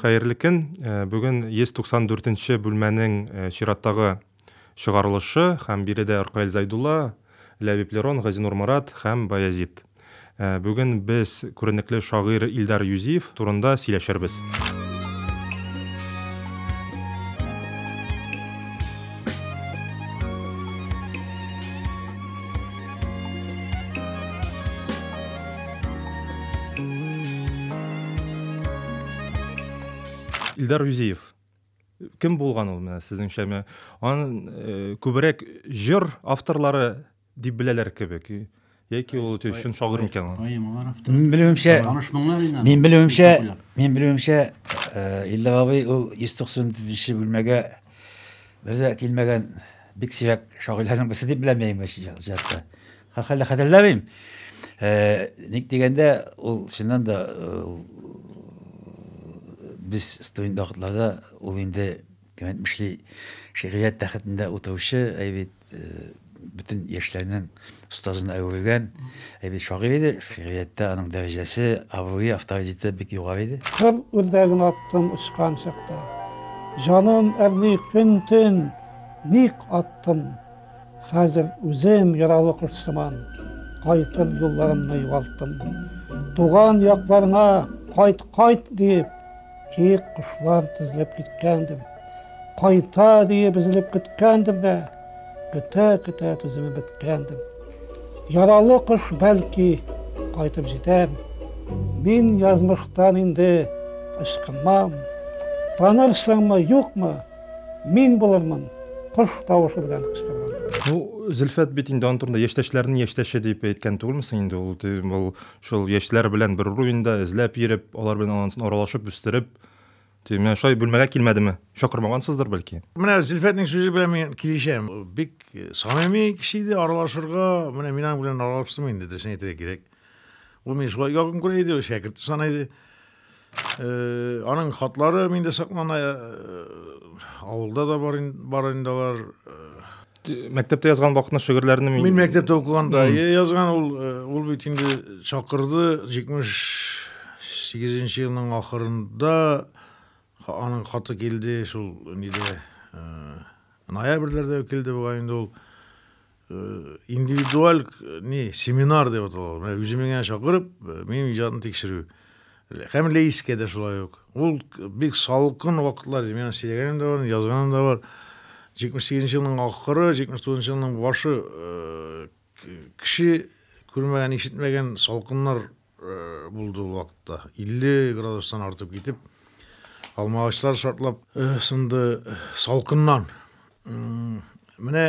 Хәерле көн! Бүген 194 нче бүлмәнең чираттагы чыгарылышы һәм биредә Ркаил Зәйдулла, Ләбиб Лерон, Газинур Марат һәм Баязит. Бүген без күренекле шагыйрь Илдар Юзиев турында сөйләшербез. Илдар Юзиев. Кем булган ул менә сезнеңчә? Аны э, күбрәк җыр авторлары Дип беләләр кебек. Яки ул өте өчен шагыйрь микән ул? Мин белүемчә, мин белүемчә, мин белүемчә, э, Илдә абый ул 194 бүлмәгә безә килмәгән бик сирәк шагыйрьләрнең берсе дип беләм мин җатта. Хәллә хәтерләмим. Э, ник дигәндә, ул чыннан да э, без студент вакытларда ул инде кем әйтмешли, шигърият тәхетендә утыручы, әй бит, бөтен яшьләрнең остазына әверелгән әйбәт шагыйрь иде. Шигърияттә аның дәрәҗәсе, абруе, авторитеты бик югары иде. Кыр үрдәген аттым очкан чакта. Җаным әрни көн-төн, ник аттым? Хәзер үзем яралы кош сыман, кайтыр юлларымны югалттым. Туган якларыңа кайт, кайт, диеп, Тик кошлар тезләп киткәндем. Кайта диеп өзелеп көткәндем дә, көтә-көтә түземем беткәндем. Яралы кош бәлки кайтып җитәр. Мин язмыштан инде ычкынмам. Танырсыңмы, юкмы? Мин булырмын. Кош тавышы белән кычкырган. Ну, Зөлфәт бит инде аның турында яшьтәшләрнең яшьтәше дип әйткән түгелме соң инде ул? Ул Шул яшьләр белән бер уровеньда эзләп йөреп, алар белән ансын аралашып үстереп, ти, менә шулай бүлмәгә килмәдеме? Чакырмагансыздыр бәлки. Менә Зөлфәтнең сүзе белән мин килешәм. Бик самими кеше иде, аралашырга, менә мин аның белән аралаштым инде, дөресен әйтергә кирәк. Ул мине шулай якын күрә иде, шәкерте саный иде. Э, аның хатлары миндә саклана э, авылда да бар бар инде алар э. мәктәптә язган вакытны шигырьләрне мин мин мәктәптә укыганда язган ул ул бит инде чакырды җитмеш сигезенче елның ахырында аның хаты килде шул нидә ноябрьләрдә килде бугай инде ул индивидуаль не семинар деп аталар менә үземне генә чакырып минем иҗатны тикшерү һәм лейскә дә шулай ук ул бик салкын вакытлар ди мен сөйләгәнем дә бар язганым да бар җитмеш сигезенче елның ахыры җитмеш тугызынчы елның башы кеше күрмәгән ишетмәгән салкыннар булды ул вакытта илле градустан артып китеп алмагачлар шартлап сынды салкыннан менә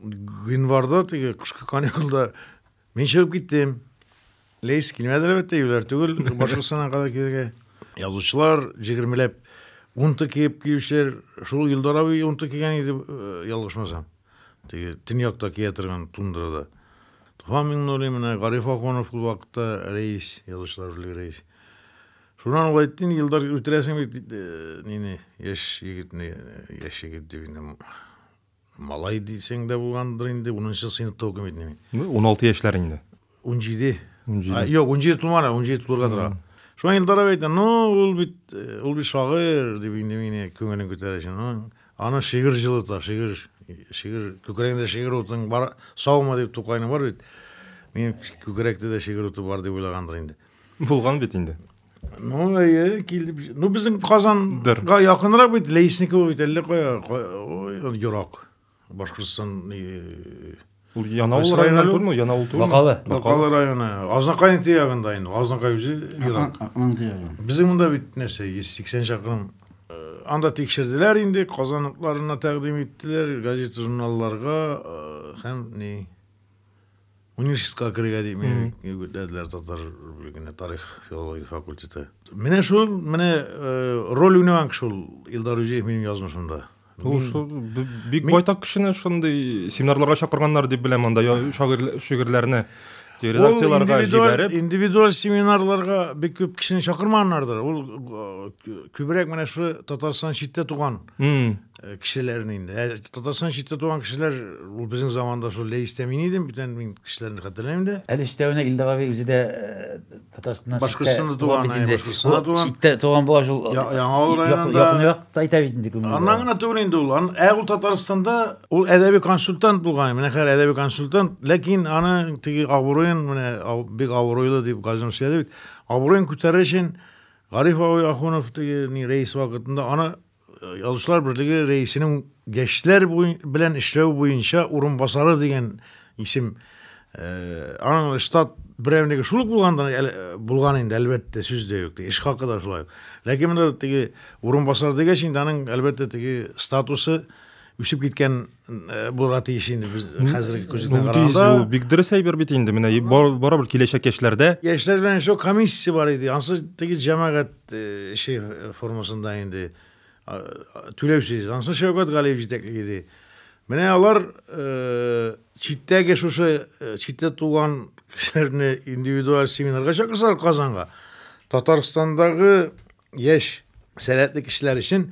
гыйнварда теге кышкы каникулда мин чыгып киттем лейс килмәде әлбәттә юләр түгел башкортстаннан кадәр килергә язучылар җегермеләп унты киеп килүчеләр шул илдар абый унты кигән иде э, ялгышмасам теге төньякта кия торган тундрада туфан миңнуллин менә гариф ахунов ул вакытта рәис язучылар берлеге рәис шуннан ул әйтте инде елдар үтерәсең бит э, нине яшь егетне яшь егет дип инде Малай дисең дә булгандыр инде, унынчы сыйныфта укыйм бит мин. Ну, уналты яшьләр инде. Унҗиде. Унҗиде. Юк, унҗиде тулмады, унҗиде тулырга тора. Шуңа Илдар абый әйтә, ну, ул бит, э, ул бит шагыйрь, дип инде мине күңелен күтәрә өчен. Ну, аны шигырь җылыта, шигырь, шигырь, күкрәгендә шигырь утың бар, саумы, дип Тукайның бар бит. Минем күкрәктә дә шигырь уты бар, дип уйлагандыр инде. Булган бит инде. Ну, әйе, килеп. Ну, безнең Казанга якынрак бит, Лейсникова бит әллә кая, ой, ерак. Башкортстан Ул Янаул районы түгелме? Янаул түгелме? Бакалы. Бакалы районы. Азнакай ягында инде. Азнакай үзе ерак. Безнең монда бит нәрсә, 180 чакрым. Анда тикшерделәр инде, казанлыкларына тәкъдим иттеләр, газета-журналларга һәм ни Университетка керергә дип мине үгетләделәр татар бүлегенә тарих филология факультеты. Менә шул, менә э, роль уйнаган шул Илдар Үзиев минем язмышымда. Ул шул бик байтак кешене шундый семинарларга чакырганнар дип беләм анда шигырьләрне редакцияләргә җибәреп. Индивидуаль семинарларга бик күп кешене чакырмаганнардыр. Ул э, күбрәк менә шул Татарстан читтә туган Э, кешеләрне инде ә татарстан читтә туган кешеләр ул безнең заманда шул ләйстә мин идем бүтән мин кешеләрне хәтерләмим дә әле өстәвенә илдар абый үзе дә э, татарстаннан башкортстанда туган башкортстанда туган читтә туган була шул яңа авыл районында якынрак айта бит инде күңел аннан гына түгел инде ул ә ул татарстанда ул әдәби консультант булган менә хәзер әдәби консультант ләкин аны теге абруен менә бик абруйлы дип газизм сөйләде бит абруен күтәрер өчен гариф абый ахунов теге рәис вакытында аны Язучылар берлеге рәисенең яшьләр белән эшләү буенча урынбасары дигән исем э, аның штат берәмлеге шул ук булгандан э, булган инде әлбәттә сүз дә юк эш хакы да шулай ук ләкин монда теге урынбасар дигәч инде аның әлбәттә теге статусы үсеп киткән Э, булырга тиеш инде без хәзерге күздән караганда ул бик дөрес әйбер бит инде менә барыбер киләчәк яшьләрдә яшьләр белән шул комиссия бар иде анысы теге җәмәгать э, эше формасында инде түләүсез анысы шәүкәт галиев җитәкли иде менә алар э, читтәге шушы читтә туган кешеләрне индивидуаль семинарга чакырсалар казанга татарстандагы яшь сәләтле кешеләр өчен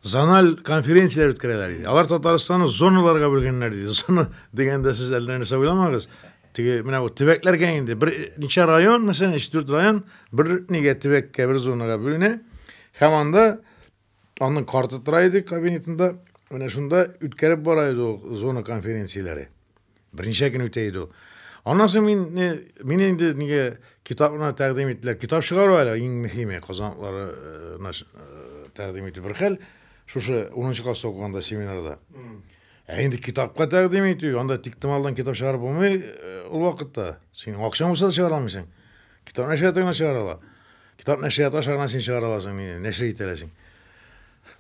зональ конференцияләр үткәрәләр иде. Алар Татарстанны зоналарга бүлгәннәр диде. Зона дигәндә сез әллә нәрсә уйламагыз. Теге менә бу төбәкләргә инде бер ничә район, мәсәлән, 3-4 район бер нигә төбәккә, бер зонага бүленә. Һәм анда аның карты тора иде кабинетында. Менә шунда үткәреп бара иде ул зона конференцияләре. Берничә көн үтә иде ул. Аннан соң мин мине инде нигә китапны тәкъдим иттеләр. Китап чыгару әле иң мөһиме, казанаклары э, э, тәкъдим итү бер хәл. Шушы 10 класста укыганда семинарда. Ә инде китапка тәкъдим итү, анда тиктемалдан китап чыгарып булмый э, ул вакытта. Син акчаң булса да чыгара алмыйсың. Китап нәшрият генә чыгара ала. Китап нәшрият аша гына син чыгара аласың, мине нәшер итә аласың.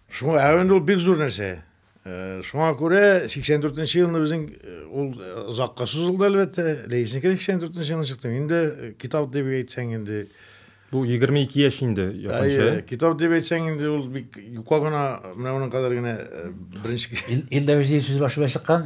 Шуңа әвен ул бик зур нәрсә. Шуңа күрә 84 нче елны безнең ул озакка сузылды әлбәттә. Ләйснеке 84 нче елны чыкты. Инде китап дип әйтсәң инде. Бу 22 яшь инде якынча. Китап дип әйтсәң инде ул бик юка гына, менә моның кадәр генә беренче. Илдә үзе сүз башы белән чыккан.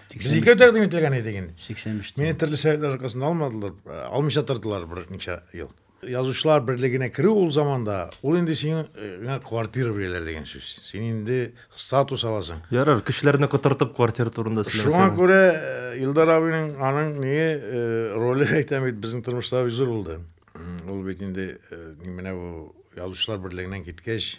Без икәү тәкъдим ителгән идек инде. 85. Мине төрле сәбәпләр аркасында алмадылар, э, алмыйча тордылар берничә ел. Язучылар берлегенә керү ул заманда, ул инде сиңа э, квартира бирәләр дигән сүз. Син инде статус аласың. Ярар, кешеләрне котыртып квартира турында сөйләмәсәң. Шуңа күрә э, Илдар абыйның аның ни роле әйтәм бит безнең тормышта бик зур булды. Ул бит инде менә бу язучылар берлегеннән киткәч,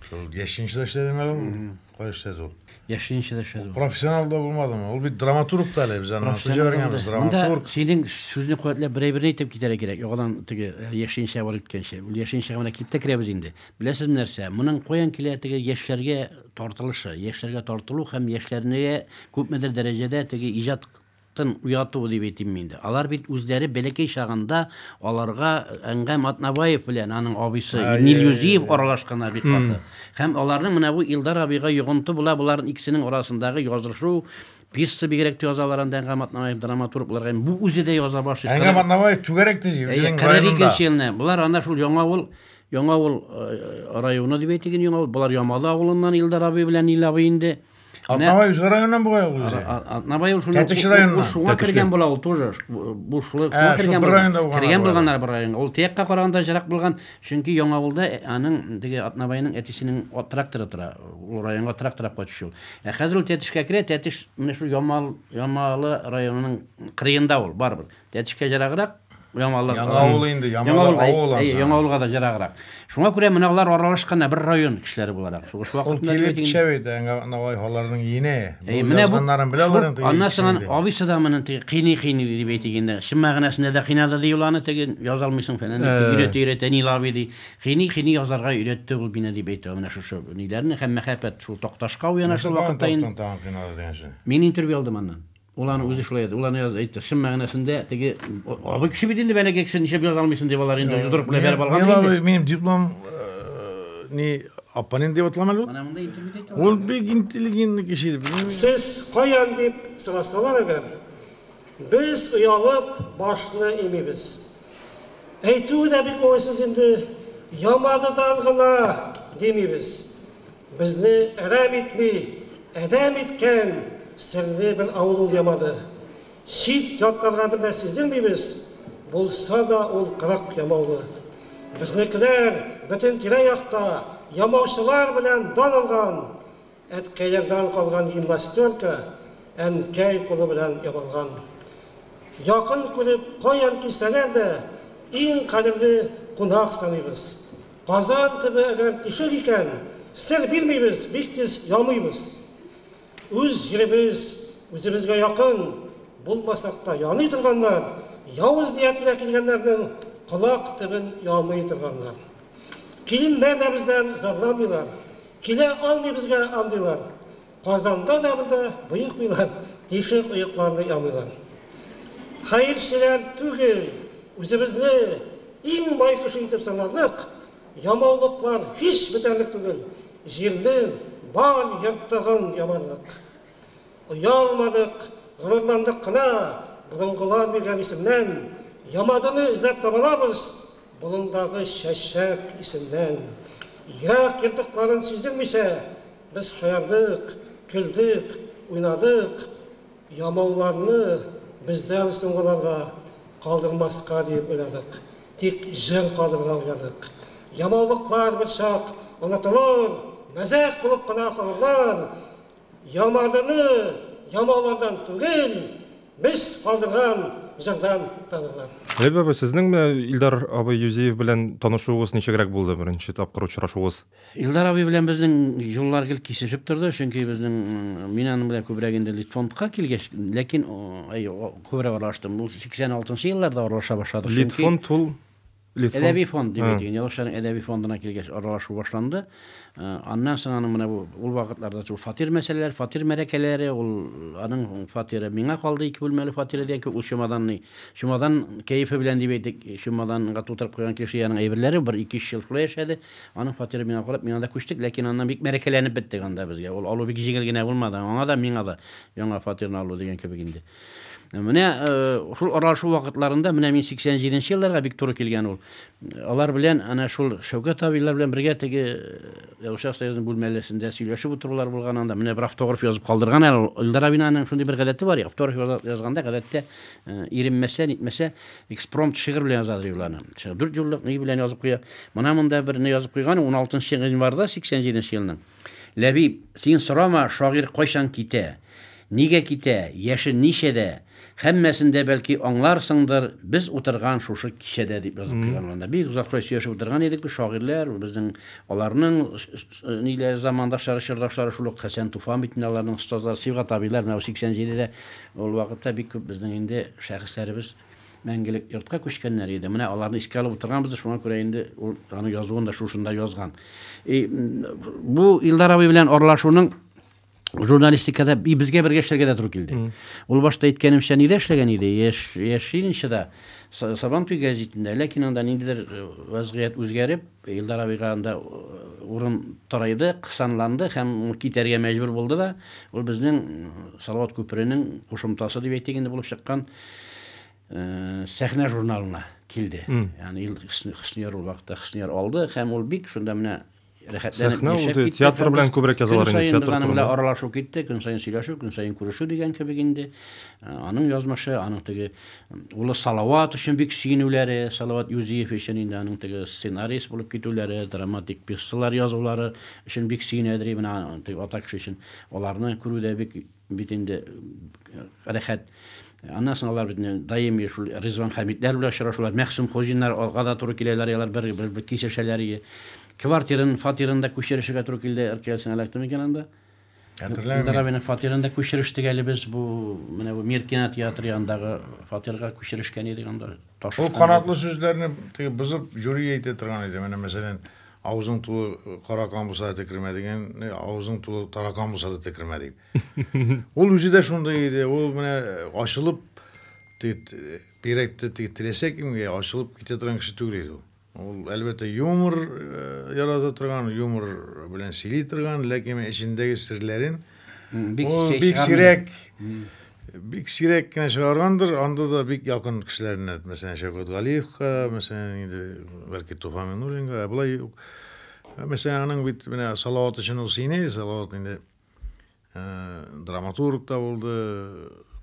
Шул яшенчеда эшләдең әле ул? Кай эшләде ул? Яшенчеда эшләде. Профессионал да булмадымы? Ул бит драматург та әле, без аны сөйләгәнбез, драматург. Синең сүзне куәтләп берәй-берне әйтеп китәргә кирәк. Яңадан теге э, яшенчә барып киткәнче. Ул яшенчәгә менә килеп тә керәбез инде. Беләсез нәрсә? Моның каян килә теге яшьләргә тартылышы, яшьләргә тартылу һәм яшьләрне күпмедер дәрәҗәдә теге иҗат Тын уяту дип әйтимме инде. Алар бит үзләре бәләкәй чагында аларга Әнгам Атнабаев белән аның абыйсы Нил Юзиев аралашканнар бик каты. Һәм аларның менә бу Илдар абыйга йогынты була болар икесенең арасындагы язышу, пьеса бигрәк тә язалар анда Әнгам Атнабаев драматург буларак һәм бу үзе дә яза башлый. Әнгам Атнабаев түгәрәк тиз үзенең районында. 42 елны болар анда шул Яңа авыл Яңа авыл районы дип әйтик инде Яңа авыл. Болар Ямалы авылыннан Илдар абый белән Нил абый инде. Атнабай үз районнан бугай ул үзе. Атнабай ул шуның Тәтеш районыннан. Шуңа кергән була ул тоже. Бушлык шуңа кергән була. Кергән булганнар бер районга. Ул тиякка караганда җырак булган, чөнки Яңа авылда аның диге Атнабайның әтисенең от тракторы тора. Ул районга трактор алып кайтыш ул. Ә хәзер ул Тәтешкә керә, Тәтеш менә шул Ямал, Ямалы районының кырыенда ул, барыбер. Тәтешкә ераграк, Яңавыл. Яңавыл инде, Яңавыл авыл ансаң. Әйе, Яңавылга да ераграк. Шуңа күрә менә алар аралашканнар бер район кешеләре буларак. Шул вакытта Ул килеп төшә бит, Навай халарының ине. Бу язганнарын белә аларның теге. Аннан соң абыйсы да моны теге кыйный кыйный дип әйтик инде. Чын мәгънәсендә дә кыйнады ди уланы теге яза алмыйсың фәлән дип өйрәтә өйрәтә Нил абый ди. Кыйный кыйный язарга өйрәтте ул мине дип әйтә менә шушы ниләрне һәм мәхәббәт шул Такташка уяна шул вакытта инде. Мин интервью алдым аннан. Ул аны үзе шулай әйтте. Ул аны әйтте. Чын мәгънәсендә теге абый кеше бит инде бәләкәй кеше ничек яза алмыйсың дип алар инде җодрык белән бәреп алган. Мин алай минем диплом э, ни апанин дип атламал ул. Менә монда интервью итә. Ул бик интеллигентный кеше. Сез каян дип сорасалар әгәр, без оялып башны имибез. Әйтүе дә бик уңайсыз инде, Ямадыдан гына димибез. Безне әрәм итми, адәм иткән серне бер авыл ул ямады. Чит ятларга бер дә сиздермибез, булса да ул кырык ямаулы. Безнекеләр бөтен тирә-якта ямаучылар белән дан алган. Әткәйләрдән калган гимнастерка әнкәй кулы белән ямалган. Якын күреп, каян килсәләр дә, иң кадерле кунак саныйбыз. Казан төбе әгәр тишек икән, сер бирмибез, бик тиз ямыйбыз. Үз җиребез, үзебезгә якын, булмасак та яный торганнар, явыз ниятенә килгәннәрнең колак төбен ямый торганнар. Киленнәр дә бездән зарламыйлар, килә алмый безгә андыйлар. Казанда да монда боекмыйлар, тишек оекларны ямыйлар. Хәерчеләр түгел, үзебезне иң бай кеше итеп санарлык, ямаулыклар һич бетәрлек түгел, җирнең бар ертыгын ямарлык. Оялмадык, горурландык кына, борынгылар биргән исемнән, Ямадыны эзләп табалабыз, болындагы чәчәк исеннән. Ерак ертыкларын сиздермичә, Без шаярдык, көлдек, уйнадык, ямауларны бездән соңгыларга калдырмаска диеп уйладык, тик җыр калдырырга уйладык. Ямаулыклар берчак онытылыр, мәзәк булып кына калырлар. Ямадыны ямаулардан түгел, без калдырган җырдан танырлар. Ләбиб абый, сезнең менә Илдар абый Юзиев белән танышуыгыз ничегрәк булды, беренче тапкыр очрашуыгыз? Илдар абый белән безнең юллар гел кисешеп торды, чөнки безнең, мин аның белән күбрәк инде Литфондка килгәч, ләкин, әй, күбрәк аралаштым. Ул 86 елларда аралаша башладык, чөнки. Литфонд ул, Литфонд. Әдәби фонд дип әйтик инде. Язучыларның әдәби фондына килгәч аралашу башланды. Аннан соң аның менә бу ул вакытларда шул фатир мәсьәләләре, фатир мәрәкәләре, ул аның фатиры миңа калды, ике бүлмәле фатиры дигән кебек, ул чемоданный, чемодан кәефе белән дип әйтик, чемоданга тутырып куйган кеше янының әйберләре, бер ике-өч ел шулай яшәде. Аның фатиры миңа карап, миңа да күчтек, ләкин аннан бик мәрәкәләнеп беттек анда безгә. Ул алу бик җиңел генә булмады, аңа да, миңа да яңа фатирны алу дигән кебек инде. Менә э, шул аралашу вакытларында, менә мин 87 нче елларга бик туры килгән ул. Алар белән, ана шул Шәүкәт абыйлар белән бергә теге Ягушак э, союзының бүлмәләсендә сөйләшеп утырулар булган анда. Менә бер автограф язып калдырган әле. Илдар абыйның шундый бер гадәте бар, автограф язганда гадәттә э, иренмәсә, нитмәсә, Экспромт шигырь белән яза ди уланы. Дүрт юллык ни белән язып куя. Мына монда берне язып куйган 16 январда 87 елның. Ләбиб, син сорама, шагыйрь кайчан китә? Нигә китә? Яше ничәдә? Һәммәсен дә бәлки аңларсыңдыр, без утырган шушы кичәдә дип язып куйган монда. Бик озакка сөйләшеп утырган идек без шагыйрьләр, безнең аларның ниләр замандашлары, чордашлары шул ук Хәсән Туфан бит инде аларның остазлары, Сибгат абыйлар менә 87-дә Ул вакытта бик күп безнең инде шәхесләребез мәңгелек йортка күчкәннәр иде. Менә аларны искә алып утырганбыз, шуңа күрә инде ул аны язуын да шушында язган. И, бу Илдар абый белән аралашуның журналистикада и безгә бергә эшләргә дә туры килде. Ул башта әйткәнемчә нидә эшләгән иде? Яш яшинчыда Сабантуй гәзитендә, ләкин анда ниндидер э, вазгыять үзгәреп, Илдар абыйга анда урын тарайды, кысанланды һәм китәргә мәҗбүр булды да. Ул безнең Салават күперенең кушымтасы дип әйтик инде булып чыккан Сәхнә журналына килде. Ягъни ил Хөснияр ул вакытта Хөснияр алды һәм ул бик шунда менә рәхәтләнеп яшәп китте. Театр белән күбрәк язалар инде. Театр белән белән аралашу китте, көн саен сөйләшү, көн саен күрешү дигән кебек инде. Аның язмышы, аның теге Улы Салават өчен бик сөенүләре, Салават Юзиев өчен инде аның теге сценарист булып китүләре, драматик пьесалар язулары өчен бик сөенәдер и менә теге ата кеше өчен. Аларны күрү дә бик бит инде рәхәт. Аннан соң алар бит даими шул Ризван Хәмитләр белән очрашулар, Мәхсүм Хуҗиннар алга да туры киләләр, ялар бер бер бер кисешәләр ие. Квартирын, фатирын да күчерешергә туры килде РКЛСның электронный икән анда. Хәтерләмим. Илдар абыйның фатирын да күчерештек әле без. Бу менә бу Мир кинотеатры янындагы фатирга күчерешкән идек анда. Таш Ул канатлы сүзләрне теге бозып жюри әйтә торган иде. Менә мәсәлән, авызың тулы каракан булса да текермә дигән, авызың тулы таракан булса да текермә дип. Ул үзе дә шундый иде. Ул менә ачылып бирәкте теләсә кемгә ачылып китә торган кеше түгел иде ул. Ул, әлбәттә, юмор ярата торган, юмор белән сөйли торган, ләкин эчендәге серләрен ул бик сирәк бик сирәк кенә чыгаргандыр, анда да бик якын кешеләренә, мәсәлән, Шәүкәт Галиевка, мәсәлән, инде бәлки Туфан Минуллинга, ә болай юк. Мәсәлән, аның бит менә Салават өчен ул сыйный, Салават инде драматург та булды,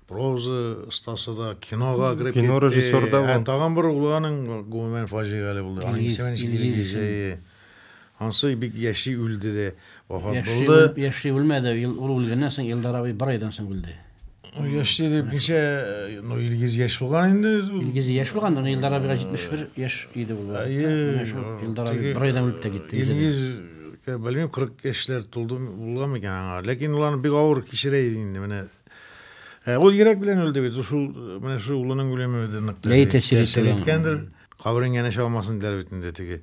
проза остасы да, кинога кереп кино режиссер да ә, тагын бер улы аның гомумән фаҗигале булды. Аның исеме Илгиз. Ансы бик яши үлде дә вафат булды. Яши үлмәде, ул үлгәннән соң Илдар абый бер айдан соң үлде. Ну, яшь диде, ничә, ну, Илгиз яшь булган инде. Илгиз яшь булган, но Илдар абыга 71 яшь иде ул. Әйе. Илдар абый бер айдан үлеп тә китте. Илгиз, белмим, 40 яшьләр тулды булган микән аңа. Ләкин ул аны бик авыр кичерә иде инде, менә. Ә ул йөрәк белән үлде бит, шул, менә шул улының үлеме дә нык тәэсир иткәндер. Каберең янәшә алмасын диләр бит инде теге.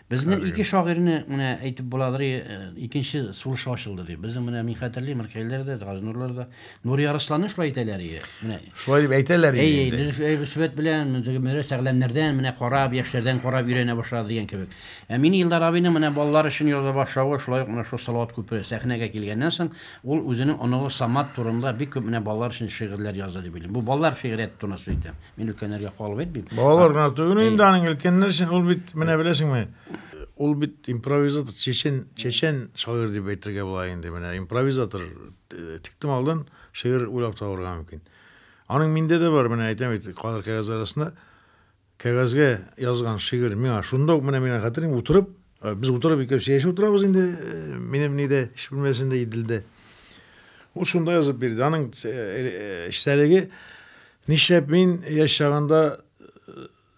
Безнең ике шагыйрьне менә әйтеп буладыр, икенче сулышы ачылды дип. Безнең менә мин хәтерлим, Ркәйләр дә, Газнурлар да, Нури Арысланны шулай әйтәләр иде. Менә. Шулай дип әйтәләр иде. Әй, без Рәсвәт белән Мөрә Сәгъләмнәрдән менә карап, яшьләрдән карап өйрәнә башлады дигән кебек. Ә мин Илдар абыйның менә балалар өчен яза башлавы, шулай ук менә шул Салават күпере сәхнәгә килгәннән соң, ул үзенең оныгы Самат турында бик күп менә балалар өчен шигырьләр язды дип уйлыйм. Бу балалар шигърияте турында сүз итәм. Мин өлкәннәргә калып әйтмим. Балалар гына түгел инде аның өлкәннәр өчен ул бит менә беләсеңме? Ул бит импровизатор, чечен, чечен шагыйрь дип әйтергә була инде. Менә импровизатор э, тиктем алдан шигырь уйлап табарга мөмкин. Аның миндә дә бар, менә әйтәм бит, калыр кәгазь арасында кәгазьгә язган шигырь миңа шунда ук менә миңа хәтерим утырып Э, без утырып икәүсе яшәп утырабыз инде э, минем нидә эш бүлмәсендә иделдә ул шунда язып бирде аның э, эчтәлеге нишләп мин яшь чагында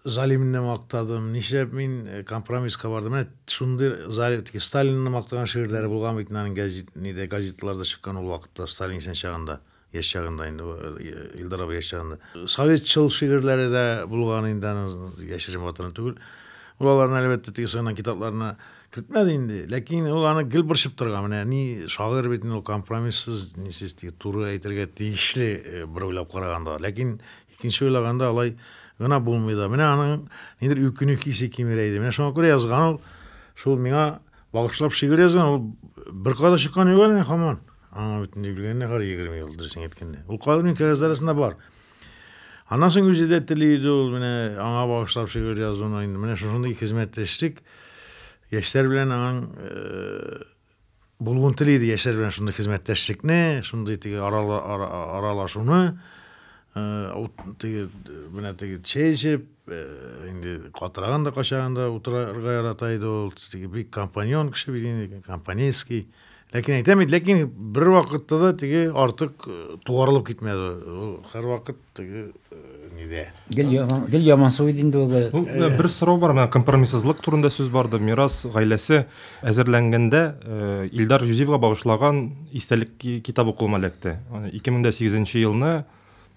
залимне мактадым нишләп мин компромисска бардым менә шундый залим сталинны мактаган шигырьләре булган бит аның газет нидә газетларда чыккан ул вакытта сталин исән чагында Яшь чагында инде Илдар абый яшь чагында. Советчыл шигырьләре дә булган инде аның яшерен ватаны түгел. Ул аларны әлбәттә теге сыгыннан китапларына кертмәде инде. Ләкин ул аны гел борчып торган. Менә ни шагыйрь бит инде ул компромиссыз, нисез теге туры әйтергә тиешле э, бер уйлап караганда. Ләкин икенче уйлаганда алай гына булмый да. Менә аның нидер үкенү хисе кимерә иде. Менә шуңа күрә язган ул. Шул миңа багышлап шигырь язган. Ул бер кадак чыккан юк әле хаман. Аңа бөтен юбилейны кар 20 ел дөресен әйткәндә. Ул калмин кәгазь арасында бар. Аннан соң үзе дә тели иде ул менә аңа багышлап шигырь язуны инде. Менә шушындый хезмәттәшлек яшьләр белән аның э, булуын тели иде яшьләр белән шундый хезмәттәшлекне, шундый теге аралашуны э, теге менә теге чәй эчеп, э, инде катыраган да качаганда утырырга ярата иде ул. Теге бик компаньон кеше бит инде, компанейский. Ләкин әйтәм бит, ләкин бер вакытта да теге артык э, тугарылып китмәде. Ул һәрвакыт теге э, нидә. Гел яман, гел яман су иде инде ул. Э, ну, э, бер сорау бар, менә компромиссызлык турында сүз барды. Мирас гаиләсе әзерләнгәндә э, Илдар Юзевга багышлаган истәлек китабы кулыма эләкте. 2008 елны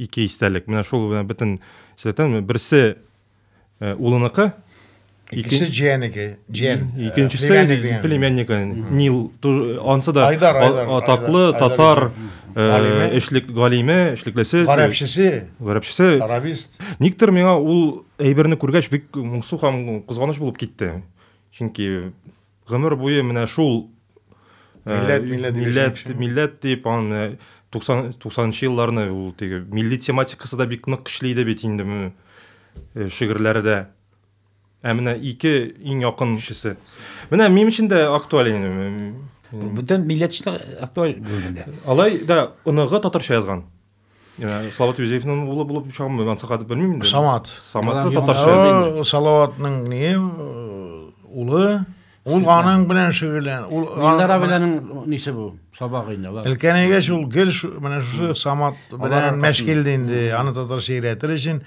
Ике истәлек. Менә шул менә бөтен сәтән берсе э, улыныкы, Икенче җиәнеге, җиән. Икенчесе э, племяннигы. Нил ансы да атаклы татар э, эшлек галиме, эшлеклесе. Гарәпчесе. Гарәпчесе. Арабист. Никтер миңа ул әйберне күргәч бик моңсу һәм кызганыч булып китте. Чөнки Гомер буе менә шул милләт, э, милләт, милләт, милләт дип, аны 90 нчы елларны ул теге милли тематикасы да бик нык көчле иде бит инде э, шигырьләрдә. Ә менә ике иң якын кешесе. Менә минем өчен дә актуаль инде. Бүтән милләт өчен актуаль булганда. Алай да оныгы татарча язган. Ә, Салават Юзефның улы булып чагымы, мен сакатып белмим инде. Самат. Самат татарча. Салаватның не улы. Ул аның белән шөгыльлән. Ул Илдар абиләрнең нисе бу? Сабагы инде алар. Өлкәнәйгә шул гел менә шушы Самат белән мәшгиль инде. Аны татарча өйрәтер өчен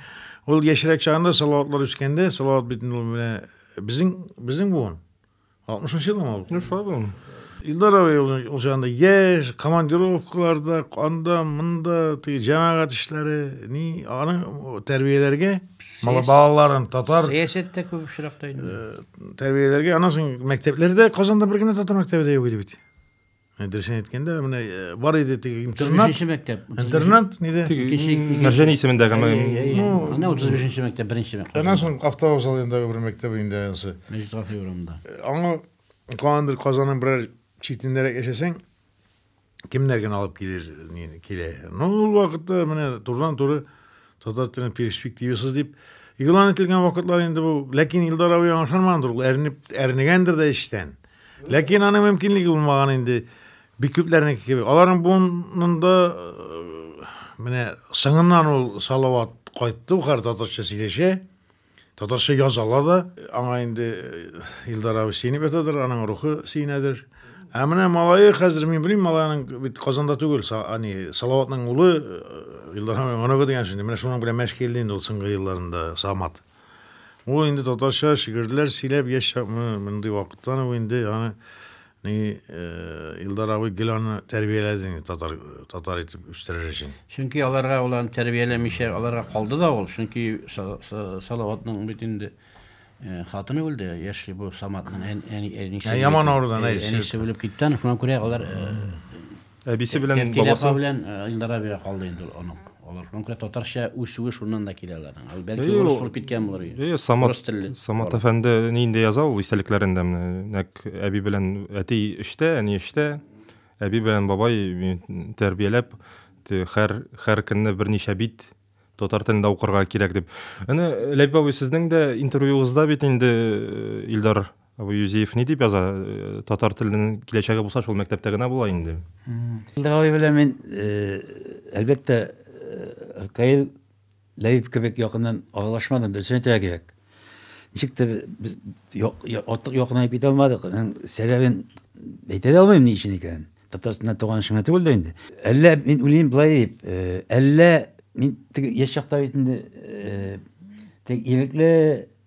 ул яшьрәк чагында Салаватлар үскәндә, Салават бит инде менә безнең безнең буын. Алтмышынчы елмы ул? Ну, шулай булган. Илдар абый ул, ул чагында яшь, командировкаларда, анда, монда, теге җәмәгать эшләре, ни, аны тәрбияләргә, мала балаларын татар Сәясәттә күп очракта инде. Э, тәрбияләргә, аннан соң мәктәпләрдә Казанда бер генә татар мәктәбе дә юк иде бит. Ә, дөресен әйткәндә, менә э, бар иде теге интернат. 35 мәктәп. Интернат неде? Мәрҗәни исемендәге Ана 35 мәктәп, беренче мәктәп. Аннан соң автовокзал янындагы бер мәктәп инде анысы. Мәҗит Гафи урамында. Э, аңа калгандыр Казанның берәр читендәрәк яшәсәң, кемнәр генә алып килер, килә. Ну, ул вакытта менә турыдан-туры Татар телен перспективасыз дип игълан ителгән вакытлар инде бу. Ләкин Илдар абый аңа ышанмагандыр, ул әрнеп, әрнегәндер дә эчтән. Ләкин аның мөмкинлеге булмаган инде. Бик күпләрнеке кебек. Аларның буынында э, менә сыңыннан ул Салават кайтты, хәр татарча сөйләшә. Татарча язалар да, аңа инде Илдар абый сөенеп ятадыр, аның рухы сөенәдер. Ә менә малае хәзер мин белмим, малайның бит Казанда түгел, ани Салаватның улы Илдар абый оныгы дигән шундый. Менә шуның белән мәш килде инде ул соңгы елларында Самат. Ул инде татарча шигырьләр сөйләп яшь чакны мондый вакыттан ул инде аны Ни, Илдар абый, гел аны тәрбияләдеңме татар, татар итеп үстерер өчен? Чөнки аларга ул аны тәрбияләмичә, аларга калды да ул. Чөнки Салаватның бит инде хатыны үлде, яшьли бу Саматның әнисе. Яман авырудан әнисе. Әнисе үлеп китте, шуңа күрә алар Әбисе белән бабасы. Тәфкилә апа белән Илдар абига калды инде ул онык. Алар конкрет татарча үсүе шуннан да килә аларның. Ул бәлки урыс булып киткән булыр. Әйе, Самат, Самат әфәнде нинди яза ул истәлекләрендә менә. Нәк әби белән әти эштә, әни эштә. Әби белән бабай тәрбияләп, хәр хәр көнне берничә бит татар телендә укырга кирәк дип. Әнә Ләбиб абый сезнең дә интервьюыгызда бит инде Илдар Ә бу Юзеев ни дип яза? Татар теленең киләчәге булса, шул мәктәптә генә була инде. Габай белән мин, әлбәттә, Каил Ләбиб кебек якыннан аралашмадым, дөресен әйтергә кирәк. Ничектер без артык якынайып китә алмадык. Сәбәбен әйтә дә алмыйм ни өчен икәнен. Татарстанда туган өчен генә түгел дә инде. Әллә мин уйлыйм болай дип, әллә мин теге яшь чакта бит инде теге ирекле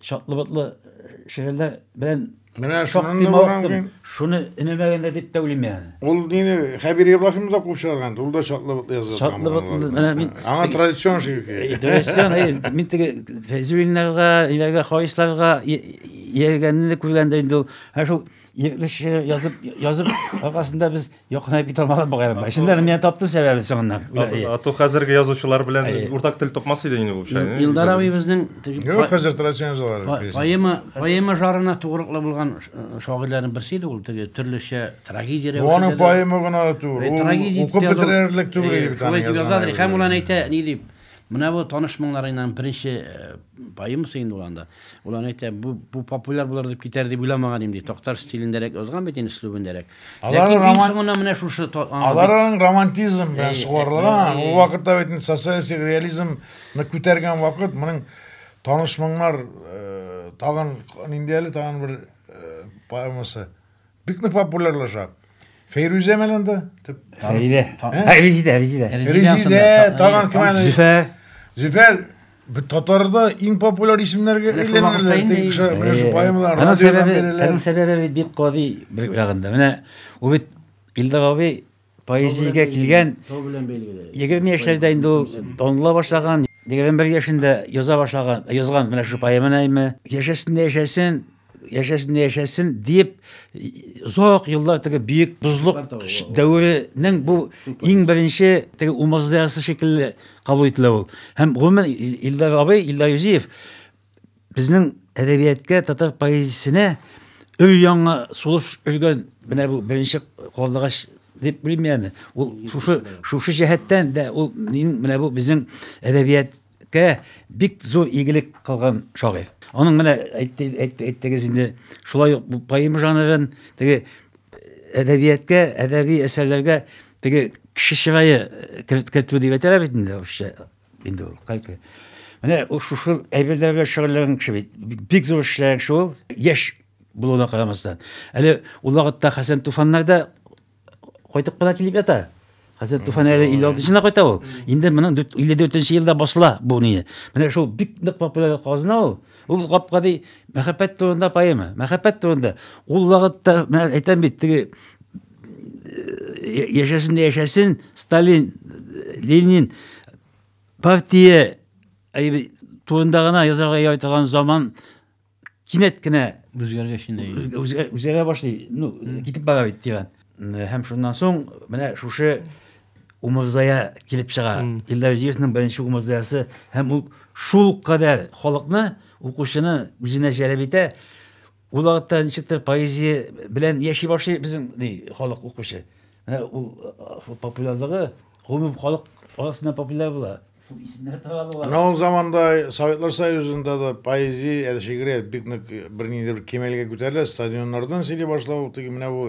Чатлы-ботлы шигырьләр белән Менә шуннан да булган Шуны өнемә генә дип тә уйлыйм яны. Ул нине Хәбир Ибраһим да куып чыгарган, ул да чатлы-ботлы язган. Чатлы-ботлы, менә мин... Аңа традицион шигырь. Традицион, мин теге Фәйзуллиннарга, иләргә, хаисларга ияргәнне күргәндә инде ул, ә шул Ирекле шигырь язып, язып, аркасында без якынай бит алмадык бугай. Шунда мин таптым сәбәбен соңыннан. Ату хәзерге язучылар белән уртак тел тапмас иде инде бу шай. Илдар абый безнең Юк, хәзер традицион язалар. Поэма, поэма жарына тугрыклы булган шагыйрьләрнең берсе иде ул, теге төрлечә трагедия рәвешендә. Аның поэма гына түгел. Укып бетерерлек түгел. Шулай дип язадыр. Һәм ул әйтә, ни дип, Менә бу таныш моңнарыңның беренче поэмасы инде ул анда. Ул аны әйтә, бу, бу популяр булыр дип китәр дип уйламаган идем, ди. Такташ стилендәрәк язган бит инде, өслүбендәрәк. Ләкин иң роман... соңына менә шушы... Аларның романтизм белән сугарылган. Ул вакытта бит инде социалистик реализм күтәргән вакыт, моның таныш моңнар тагын, нинди әле тагын бер поэмасы. Бик нык популярлаша. Фәйрүзә менә анда. Фәридә. Ә, Резидә, Резидә. Резидә, тагын кем әле? Зөфәр. Зөфәр татарда иң популяр исемнәргә әйләнәләр теге кеше менә поэмалар аның сәбәбе аның сәбәбе бит бик гади бер ягында менә ул бит илдар абый Поэзиягә килгән 20 яшьләрдә инде ул таныла башлаган, 21 яшендә яза башлаган, язган менә шул поэманы әйме. Яшәсен дә яшәсен, яшәсен дә яшәсен дип озак еллар теге бөек бозлык дәверенең бу иң беренче теге умырзаясы шикелле кабул ителә ул. Һәм гомумән Илдар абый, Илдар Юзиев Безнең әдәбияткә, татар поэзиясенә өр-яңа сулыш өргән менә бу беренче карлыгач дип белим яны. Ул шушы шушы җәһәттән дә ул менә бу безнең әдәбияткә бик зур игелек кылган шагыйрь. Аның менә әйттегез инде, шулай ук бу поэма жанрын теге әдәбияткә, әдәби әсәрләргә теге кеше чырае кертү дип әйтәләр бит инде русча. инде ул кайпы менә ул шушы әйберләр белән шөгыльләнгән кеше бит бик зур эшләгән кеше ул яшь булуына карамастан әле ул вакытта хәсән туфаннар да кайтып кына килеп ята хәсән туфан әле илле алтынчына кайта ул инде моның илле дүртенче елда басыла бу не менә шул бик нык популяр казна ул ул гапкади мәхәббәт турында поэма мәхәббәт турында ул вакытта мен әйтәм бит теге яшәсен дә яшәсен сталин ленин партия турында гына язарга ярый торган заман кинәт кенә үзгәргәч инде үзгәрә башлый ну китеп бара бит тирән һәм шуннан соң менә шушы умырзая килеп чыга илдарҗиевның беренче умырзаясы һәм ул шул кадәр халыкны укучыны үзенә җәлеп итә Ул вакытта ничектер поэзия белән яши башлый безнең ди халык укучы. Менә ул популярлыгы гомум халык арасында популяр була. Шул исемнәр таралуга. Менә ул заманда Советлар Союзында да поэзия, ә шигърият бик нык бернинди бер кимәлгә күтәрелә, стадионнардан сөйли башлау, теге менә бу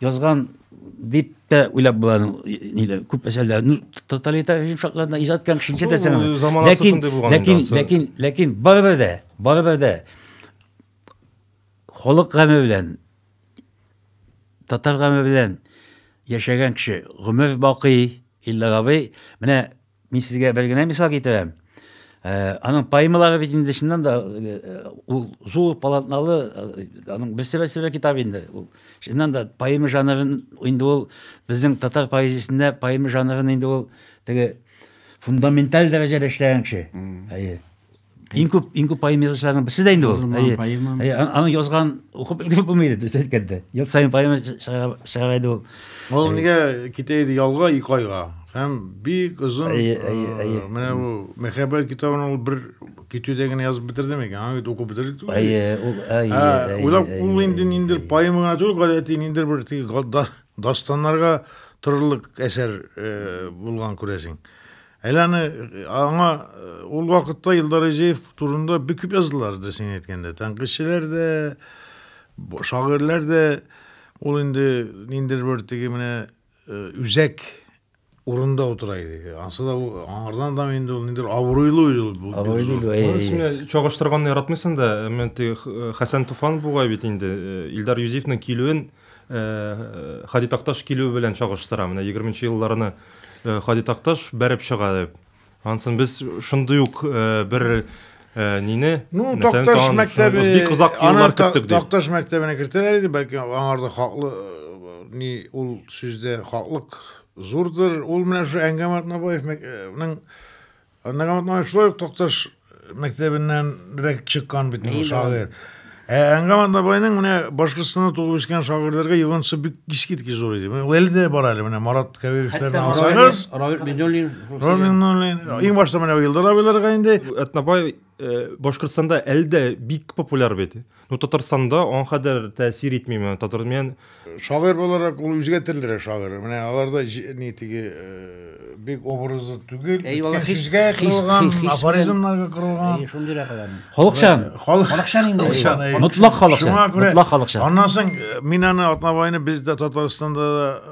Язган дип тә уйлап була ниләр күп әсәрләр ну тоталитар режим шартларында иҗат иткән кешенчә дә сән ләкин ләкин ләкин ләкин барыбер дә барыбер дә халык гаме белән татар гаме белән яшәгән кеше гомер бакый иллар абый менә Мин сезгә бер генә мисал китерәм. Э, аның поэмалары бит инде чыннан да э, э, ул зур полотналы аның берсе берсе бер китап инде ул чыннан да поэма жанрын инде ул безнең татар поэзиясендә поэма жанрын инде ул теге фундаменталь дәрәҗәдә эшләгән кеше әйе Иң күп иң күп поэма язучыларның берсе дә инде ул. Әйе. Аны язган укып өлгереп булмый иде, дөрес әйткәндә. Ел саен поэма чыгара иде ул. Ул нигә китә иде ялга ике айга? Һәм бик озын менә бу мәхәббәт китабын ул бер китүдә генә язып бетерде микән? Аны бит укып бетердек түгел. Әйе, ул әйе. Уйлап ул инде ниндер поэма гына түгел, гадәти ниндер бер дастаннарга торырлык әсәр булган күрәсең. Әле аны аңа ул вакытта Илдар Изеев турында бик күп язылар иде, син әйткәндә. Тәнкыйтьчеләр дә, шагыйрьләр дә ул инде ниндидер бер теге менә үзәк урында утыра иде. Ансы да аңардан да инде ул ниндидер абруйлы иде ул. Абруйлы иде. Син чагыштырганны яратмыйсың да, әмма теге Хәсән Туфан бугай бит инде Илдар Юзефның килүен Һади Такташ килүе белән чагыштыра. Менә егерменче елларны Һади Такташ бәреп чыга дип. Ансын без шундый ук бер нине Ну, Такташ мәктәбе бик озак еллар көттек дип. Такташ мәктәбенә кертәләр иде, бәлки аңарда хаклы ни ул сүздә хаклык зурдыр. Ул менә шул Әнгәм Атнабаевның Аннан Гаматман шулай ук Такташ мәктәбеннән рәк чыккан бит ул шагыйрь. Ә Әнгам Атнабайның менә Башкортстанда туып үскән шагыйрьләргә йогынтысы бик искиткеч зур иде. Менә әле дә бар әле менә Марат Кәбировтан алсагыз, Равил Минуллин, Равил Минуллин, иң башта менә Илдар абыйларга инде. Атнабай Э, башкортстанда әле дә бик популяр бит ну татарстанда аңа кадәр тәэсир итмиме татар мен шагыйрь буларак ул үзгә төрлерәк шагыйрь менә аларда ни теге э, бик образы түгел сүзгә корылган афоризмнарга корылган шундыйрак аларның халыкчан э, халыкчан инде мотлак халыкчан мотлак халыкчан аннан соң мин аны атнабайны без дә татарстанда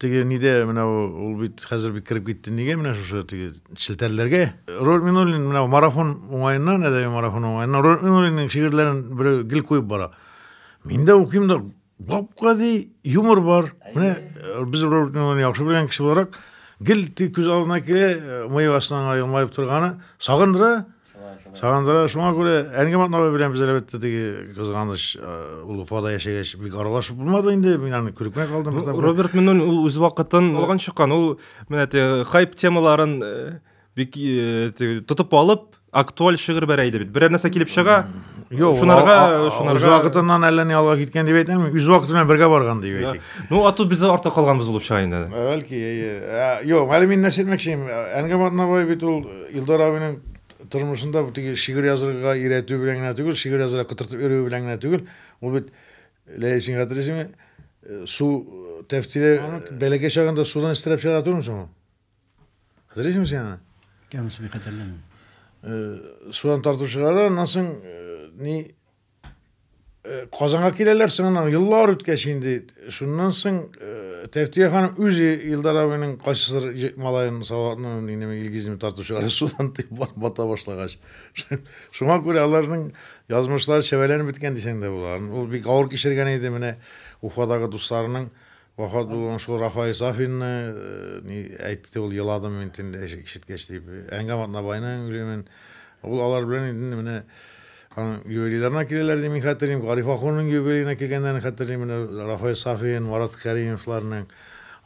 Теге нидә менә ул бит хәзер бит кереп китте нигә менә шушы теге челтәрләргә. Роль Минуллин менә марафон уңаеннан, әдәби марафон уңаеннан Роль Минуллинның шигырьләрен берәү гел куеп бара. Мин дә укыйм да гап-гади юмор бар. Менә э, без Роль Минуллинны яхшы белгән кеше буларак гел күз алдына килә, э, мыек астыннан елмаеп торганы, сагындыра. Сагындыра. Шуңа күрә Әнгә Матнабай белән без әлбәттә теге кызганыч ул Уфада яшәгәч бик аралашып булмады инде. Мин аны күрмәй калдым. Ну, Роберт Минун ул үз вакытын алган чыккан. Ул менә те хайп темаларын бик тотып алып, актуаль шигырь бәрә иде бит. Берәр нәрсә килеп чыга, Юк, шунарга, шунарга. Үз вакытыннан әллә ни алга киткән дип әйтәм. Үз вакыты белән бергә барган дип әйтик. Ну, а тут без артта калганбыз булып чыга инде. Бәлки, әйе. Ә, Юк, әле мин нәрсә әйтмәкчем. Әнгам Атнабай бит ул Илдар абыйның тормышында бу теге шигырь язырга өйрәтү белән генә түгел, шигырь язырга котыртып йөрүе белән генә түгел. Ул бит Ләйсин хәтерисеңме? Э, Су э, тәфтиле бәләкәй чагында судан истерәп чыгара түгелме соң ул? Хәтерисеңме син аны? Кәмсез бик хәтерләмим. Э, Судан тартып чыгара, аннан соң э, ни Э, Казанга киләләр соң аннан еллар үткәч инде шуннан соң э, Тәфтия ханым үзе Илдар абыйның кайсыдыр малаен саватны инеме Илгизне тартып чыгара судан дип бата башлагач. Шуңа күрә аларның язмышлары чәбәләнеп беткән дисәң дә була. Ул бик авыр кичергән иде менә Уфадагы дусларының Вафат булган шул Рафаи Сафинны ни әйтте ул, еладым мин төнлә ишеткәч дип. Әнгам Атнабайның үлемен. Ул алар белән инде менә аның юбилейларына киләләр дип мин хәтерлим. Гариф ахуның юбилеена килгәннәрен хәтерлим. Менә Рафаи Сафин, Марат Кәримовларның.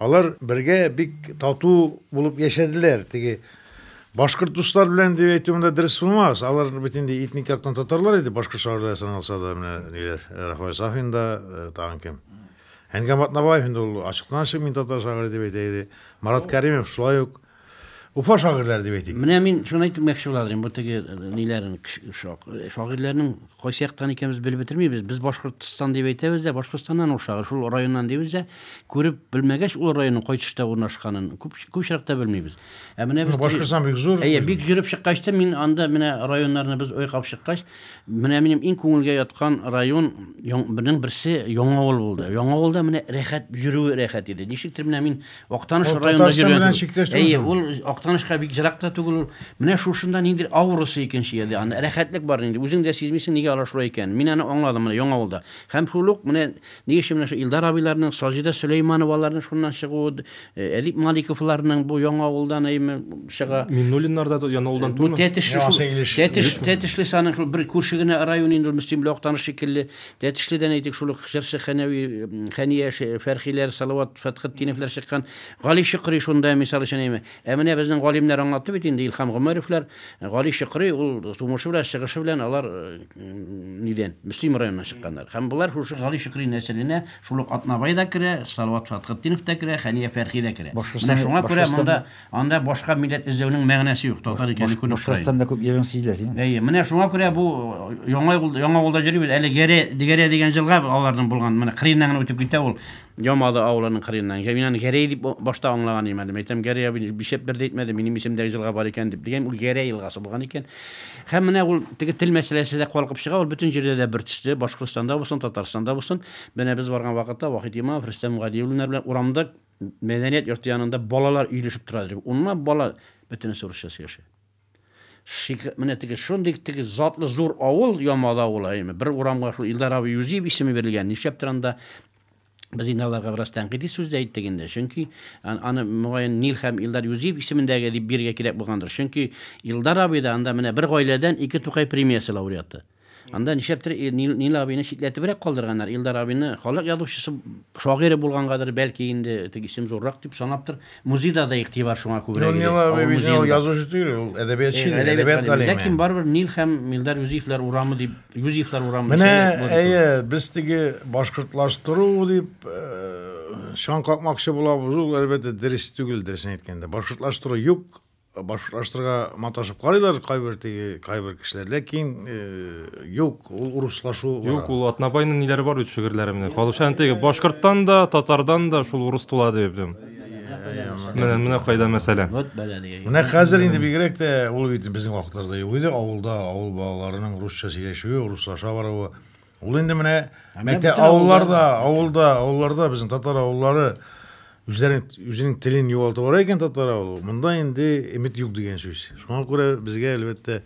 Алар бергә бик тату булып яшәделәр. Теге башкорт дуслар белән дип әйтү монда дөрес булмас. Алар бит инде этник яктан татарлар иде, башкорт шагыйрьләре саналса да, менә ниләр, Рафаи Сафин да, тагын кем? Әнгам Атнабаев инде ул ачыктан ачык мин татар шагыйре дип әйтә иде. Марат Кәримев шулай ук Уфа шагыйрьләре дип әйтик. Менә мин шуны әйтеп мәкче буладым, бу теге э, ниләрен шагыйрьләрнең кайсы яктан икәнбез белеп бетермибез. Без Башкортстан дип әйтәбез дә, Башкортстаннан ул шагыйрь, шул районнан дибез дә, күреп белмәгәч ул районның кай төштә урнашканын күп күп очракта белмибез. Ә менә без Башкортстан бик зур. Әйе, бик җөреп чыккач та мин анда менә районнарны без ойкап чыккач, Менә минем иң күңелгә яткан район бының берсе Яңавыл булды. Яңавылда менә рәхәт йөрүе рәхәт иде. Ничектер менә мин Актаныш районында йөргән. Әйе, ул Актанышка бик ерак та түгел ул. Менә шушында ниндидер аурасы икенче иде. Анда рәхәтлек бар инде. Үзең дә сизмисең, нигә алар шулай икәнен. Мин аны аңладым менә Яңавылда. Һәм шул ук менә Ни өчен менә шу Илдар абыйларның, Саҗидә Сөләймановаларның шуннан чыгуы, э, Әдип Маликовларның бу Яңа авылдан әйме чыга. Миннуллиннар да Яңа авылдан Бу түгелме? Тәтешле шул. Яңасы Илеш. Тәтеш, Илеш. Тәтешле саның шул бер күрше генә район инде ул Мөслим белән Актаныш шикелле. Тәтешледән әйтик шул ук җырчы Хәнәви, м, Хәния, Ше- Фәрхиләр, Салават Фәтхетдиновлар чыккан. Гали Чокрый шунда, мисал өчен әйме. Ә менә безнең галимнәр аңлатты бит инде, Илһам Гомәровлар, Гали Чокрый, ул тумышы белән, чыгышы белән алар нидән, Мөслим районыннан чыкканнар. Һәм болар шушы Гали Чокрый нәселенә шул ук Атнабай да керә, Салават Фәтхетдинов та керә, Хәния Фәрхи дә керә. Менә шуңа күрә монда анда башка милләт эзләүнең мәгънәсе юк, татар икәнлек күренеп тора. Башкортстанда күп йөрүең сизелә синең. Әйе, менә шуңа күрә бу Яңа Авылда йөрибез, әле Гәрә дигән җылга аларның булган, менә кырыеннан гына үтеп китә ул. Ямалы авылының кырыеннан. Мин аны Гәрәй дип башта аңлаган идем әле. Мәйтәм, Гәрәй абый нишләп бер дә әйтмәде, минем исемдәге җылга бар икән дип. Дигән, ул Гәрәй елгасы булган икән. Һәм менә ул теге тел мәсьәләсе дә калкып чыга, ул бөтен җирдә дә бер төсле, Башкортстанда булсын, Татарстанда булсын. Менә без барган вакытта Вахит Имамов, Рөстәм Гали уллар белән урамда мәдәният йорты янында балалар өелешеп тора иде. Унлап бала, бөтенесе урысча сөйләшә. Шик, менә теге шундый теге затлы зур авыл, Ямал авылы, әйме, бер урамга шул Илдар абый Юзиев исеме бирелгән. Нишләптер анда без инде аларга бераз тәнкыйди сүз дә әйттек инде. Чөнки аны мөгаен Нил һәм Илдар Юзиев исемендәге дип бирергә кирәк булгандыр. Чөнки Илдар абый да анда менә бер гаиләдән ике Тукай премиясе лауреаты. Анда нишләптер Нил абыйны читләтебрәк калдырганнар. Илдар абыйны халык язучысы, шагыйре булгангадыр, бәлки инде теге исем зуррак дип санаптыр. Музейда да игътибар шуңа күбрәк иде. Нил абый безнең ул язучы түгел, ул әдәбиятчы, әдәбият галиме. Ләкин барыбер Нил һәм Илдар Юзефлар урамы дип, Юзефлар урамы. Менә, әйе, без теге башкортлаштыру дип чаң какмакчы булабыз, ул әлбәттә дөрес түгел, дөресен әйткәндә. Башкортлаштыру юк, башкортлаштырырга маташып карыйлар кайбер теге кайбер кешеләр ләкин э, юк ул урыслашу юк ул атнабайның ниләре бар бит шигырьләре менә халыкча теге башкорттан да татардан да шул урыс тула дип менә менә кайда мәсьәлә менә хәзер инде бигрәк тә ул бит безнең вакытларда юк иде авылда авыл балаларының русча сөйләшүе урыслаша баруы Ул инде менә мәктәп авылларда, авылда, авылларда безнең татар авыллары үзләренең үзенең телен югалтып бара икән татар авылы. Монда инде эмит юк дигән сүз. Шуңа күрә безгә әлбәттә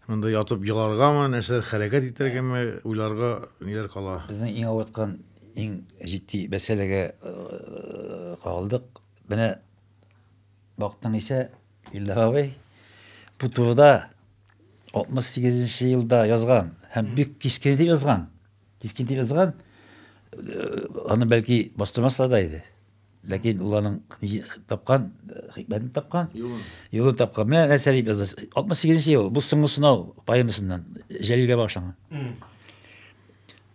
монда ятып еларгамы, нәрсәләр хәрәкәт итәргәме, уйларга ниләр кала. Безнең иң авырткан, иң җитди мәсьәләгә э, калдык. Менә бактың исә, Илдар абый бу турыда 68 нче елда язган һәм бик кискен итеп язган. Кискен итеп язган. Э, аны бәлки бастырмаслар да иде. Ләкин ул аның тапкан, э, хикмәтен тапкан, юлын тапкан. Менә нәрсә дип язды. 68 нче ел, бу соңгы сынау поэмасыннан, Җәлилгә багышланган.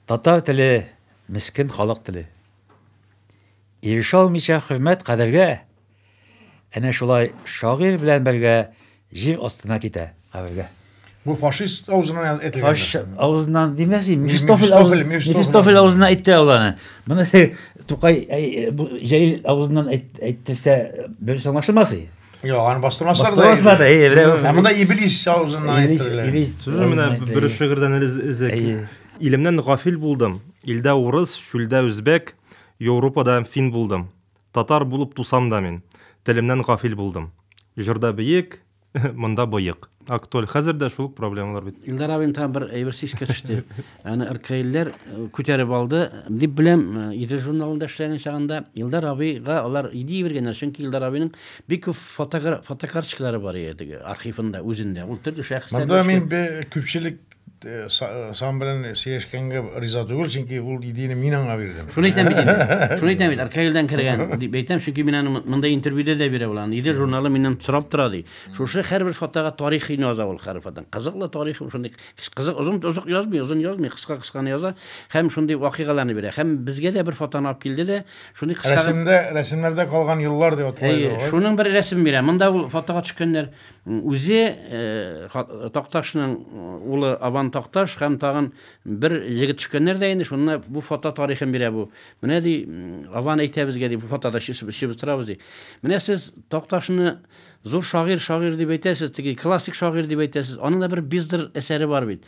Татар теле, мискен халык теле. Ирешә алмыйча хөрмәт кадәргә, Әнә шулай шагыйрь белән бергә җир астына китә, кабергә. Бу фашист авызыннан әйтелгән. Фашист авызыннан димәс инде. Мефистофель авызыннан. Мефистофель авызыннан әйтте ул аны. Моны Тукай Җәлил авызыннан әйттерсә, бер соңлашылмас и. Йо, аны бастырмаслар да. Бастырмаслар да. Әйе, берәү. Ә монда Иблис авызыннан әйттерелә. Иблис. Сүзне менә бер шигырьдән эзләк. Илемнән гафил булдым. Илдә урыс, чүлдә үзбәк, Европада фин булдым. Татар булып тусам да мин. Телемнән гафил булдым. Җырда биек, монда боек. Актуаль хәзер дә шул проблемалар бит. Илдар абыем тагын бер әйбер искә төште. Аны ркаилләр күтәреп алды. Дип беләм, Идел журналында эшләгән чагында Илдар абыйга алар идея биргәннәр, чөнки Илдар абыйның бик күп фотокарточкалары бар иде теге архивында, үзендә. Ул төрле шәхесләрне. Монда мин күпчелек сан белән сөйләшкәнгә риза түгел, чөнки ул идеяне мин аңа бирдем. Шуны әйтәм бит инде. Шуны әйтәм бит, Аркаилдән кергән дип әйтәм, чөнки мин аны монда интервьюда да бирә ул аны. Идел журналы миннән сорап тора ди. Шушы һәрбер фотога тарихын яза ул һәр фотоның. Кызыклы тарихы шундый. Кызык озын озак язмый, озын язмый, кыска кысканы яза һәм шундый вакыйгаларны бирә. Һәм безгә дә бер фотоны алып килде дә, шундый кыска Рәсемдә, рәсемнәрдә калган еллар дип атлайды. Әйе, шуның бер рәсеме бирә. Монда ул фотога төшкәннәр. Үзе Такташның улы Абан Такташ һәм тагын бер егет төшкәннәр дә инде, шунда бу фото тарихын бирә бу. Менә ди, Абан әйтә безгә ди, бу фотода чыбыштырабыз ди. Менә сез Такташны зур шагыйрь, шагыйрь дип әйтәсез, теге классик шагыйрь дип әйтәсез, аның да бер Биздер әсәре бар бит.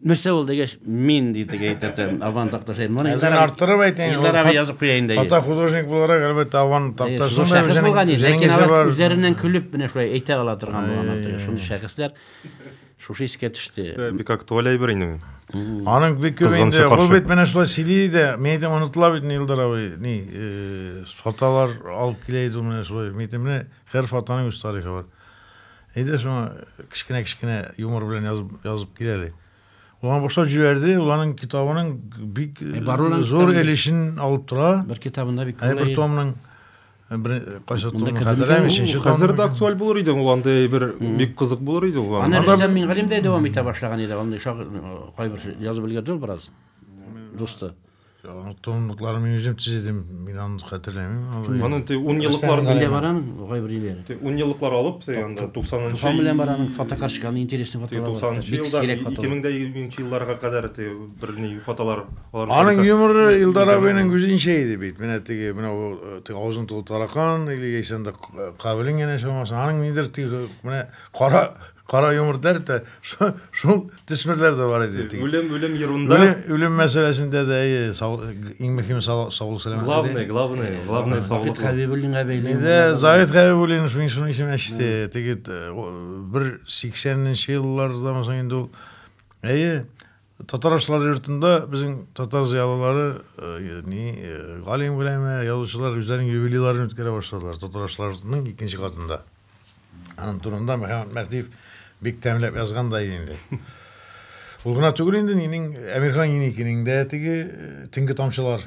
Нәрсә ул дигәч, мин дип дип әйтәтем. Аван такташы. Моны Әзер арттырып әйтәйин. Илдар абый язып куя инде. Фото художник буларак, әлбәттә, Аван такташы да үзенең үзенең изе бар. Үзләреннән көлеп менә шулай әйтә ала торган булганнар теге шундый шәхесләр. Шушы искә төште. Бик актуаль әйбер инде. Аның бик күп инде. Ул бит менә шулай сөйли иде. Мин әйтәм, онытыла бит Илдар абый. Ни, фотолар алып килә иде менә шулай. Мин әйтәм, менә һәр фотоның үз тарихы бар. Әйдә шуңа кечкенә-кечкенә юмор белән язып, язып кил әле. Ул аны башлап җибәрде, ул аның китабының бик э, э зур өлешен алып тора. Бер китабында бик күп. Бер томның э, бер кайсы томны хәтерләмим, өченче том. Хәзер дә актуаль булыр иде ул андый бер бик кызык булыр иде ул. Аны Рөстәм Мингалим дә дәвам итә башлаган иде, андый шагыйрь кайбер язып өлгерде ул бераз. Дусты. Тонлыкларын мин үзем тизедем, мин аны хәтерләмим. Аның те ун еллыклар белән барам, гайбер иләр. Те ун еллыклар алып, те анда 90 нчы. Һәм белән барам, фотокарточка аны интересный фотолар. 90 нчы елда 2000 елларга кадәр те берни фотолар. Аның юморы Илдар абыйның үзенчә иде бит. Менә теге, менә бу те авызын тулы таракан или яисә анда кабелен генә чамасы. Аның нидер теге менә кара Кара йомырт дәреп тә, шул төсмерләр дә бар иде. Үлем, үлем ерунда. Үлем, үлем мәсьәләсендә дә әйе, иң мөһиме саулык сәламәт. Главное, главное, главное саулык. Заид Хәбибуллинга бәйле. Инде Заид Хәбибуллин шуның шуның исеме әчте. Теге бер 80 нче еллардан соң инде ул әйе, Татарашлар йортында безнең татар зыялылары э, ни э, галим гөләмә язучылар үзләренең юбилейларын үткәрә башладылар татарашларның икенче катында аның турында мөхәммәд мәхтиев бик тәмләп язган да инде ул гына түгел инде нинең әмирхан еникинең дә теге э, төнге тамчылар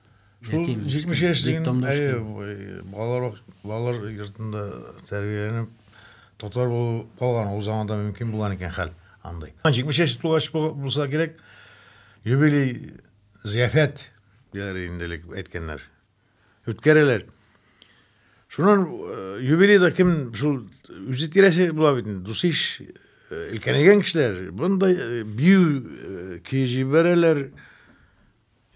Шул 70 яшьлеген балалар балалар йортында тәрбияләнеп татар булып калган ул заманда мөмкин булган икән хәл андый. 70 яшь тулгач булса кирәк юбилей зияфәт диләр инде элек әйткәннәр. Үткәрәләр. Шуннан э, юбилейда кем шул үзе тирәсе була бит инде дусиш өлкәнәйгән э, кешеләр мондай э, бию көй җибәрәләр.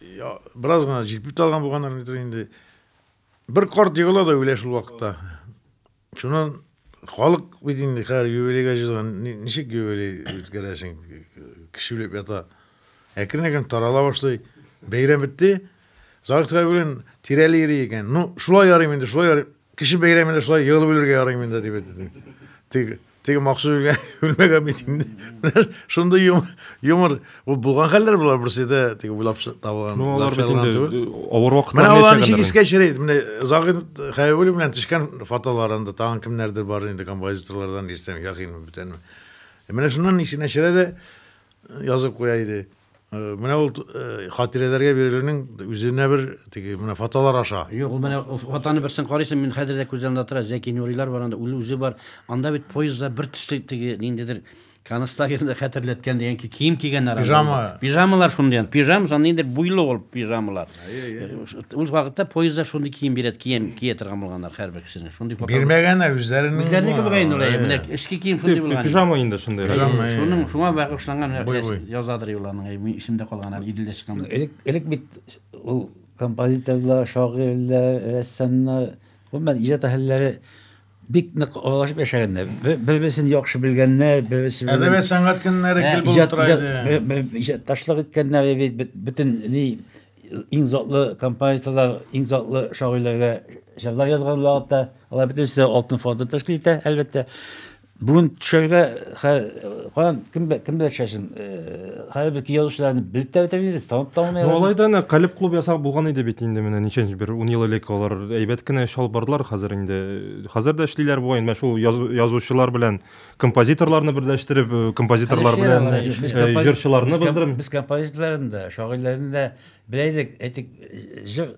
Я, бераз гына җикпи талган булганнар нидер инде. Бер карт егыла да үлә шул вакытта. Шуннан халык бит инде хәзер юбилейга җыелган, ничек юбилей үткәрәсең? Кеше үлеп ята. Әкрен-әкрен тарала башлый. Бәйрәм бетте. Загык белән тирәли йөри икән. Ну, шулай ярыйм инде, шулай ярыйм. Кеше бәйрәмендә шулай егылып үлергә ярыйм инде дип әйтте. Тик Теге махсус үлгән, үлмәгән бит инде. Шундый юмор, бу булган хәлләр булар берсе дә теге уйлап табылган. Ну, алар бит инде авыр вакытлар. Менә алар ничек искә чирей. Менә Загин Хәйвул белән төшкән фотоларында тагын кемнәрдер бар инде композиторлардан дисәң, якын бүтәнме. Менә шуннан ничек нәшерә дә язып куя иде. Э, менә ул э, хатирәләргә бирелүнең үзенә бер теге менә фотолар аша юк ул менә фотоны берсен карыйсың мин хәзер дә күзләрендә тора зәки нурилар бар анда үзе үзе бар анда бит поездда бер төсле теге ниндидер концлагерьны хәтерләткән дигән кием кигәннәр пижама пижамалар шундый пижам ниндидер буйлы ул пижамалар Үз вакытта поездда шундый кием бирәт, кием кия торган булганнар һәрбер кешене. Шундый фото. Бирмәгән ә үзләренең. Үзләренеке булган инде улай, менә эшке кием шундый булган. Пижама инде шундый. Пижама. Шуның шуңа багышланган язадыр юлларның, мин исемдә калган әле иделдә чыккан. Элек элек бит ул композиторлар, шагыйрьләр, рәссамнар, гомумән иҗат әһелләре бик нык аралашып яшәгәннәр. Бер-берсен яхшы белгәннәр, берсе белән. Әдәбият сәнгать көннәре гел булып тора иде. Иҗат ташлык иткәннәр бит бөтен ни иң затлы композиторлар, иң затлы шагыйрьләргә җырлар язган вакытта, алар бөтенесе алтын фонды тәшкил итә, әлбәттә. Бүген төшәргә каян кем кемдә төшәсең? Хәзер без язучыларны белеп тә бетермибез, танып та алмыйбыз. Ну, алай да әнә Калеб клуб ясап булган иде бит инде менә ничәнче бер 10 ел элек алар әйбәт кенә эш алып бардылар хәзер инде. Хәзер дә эшлиләр бугай, менә шул язучылар белән композиторларны берләштереп, э, композиторлар белән э, э, җырчыларны без, без композиторларны да, шагыйрьләрне дә белә идек, әйтик, җыр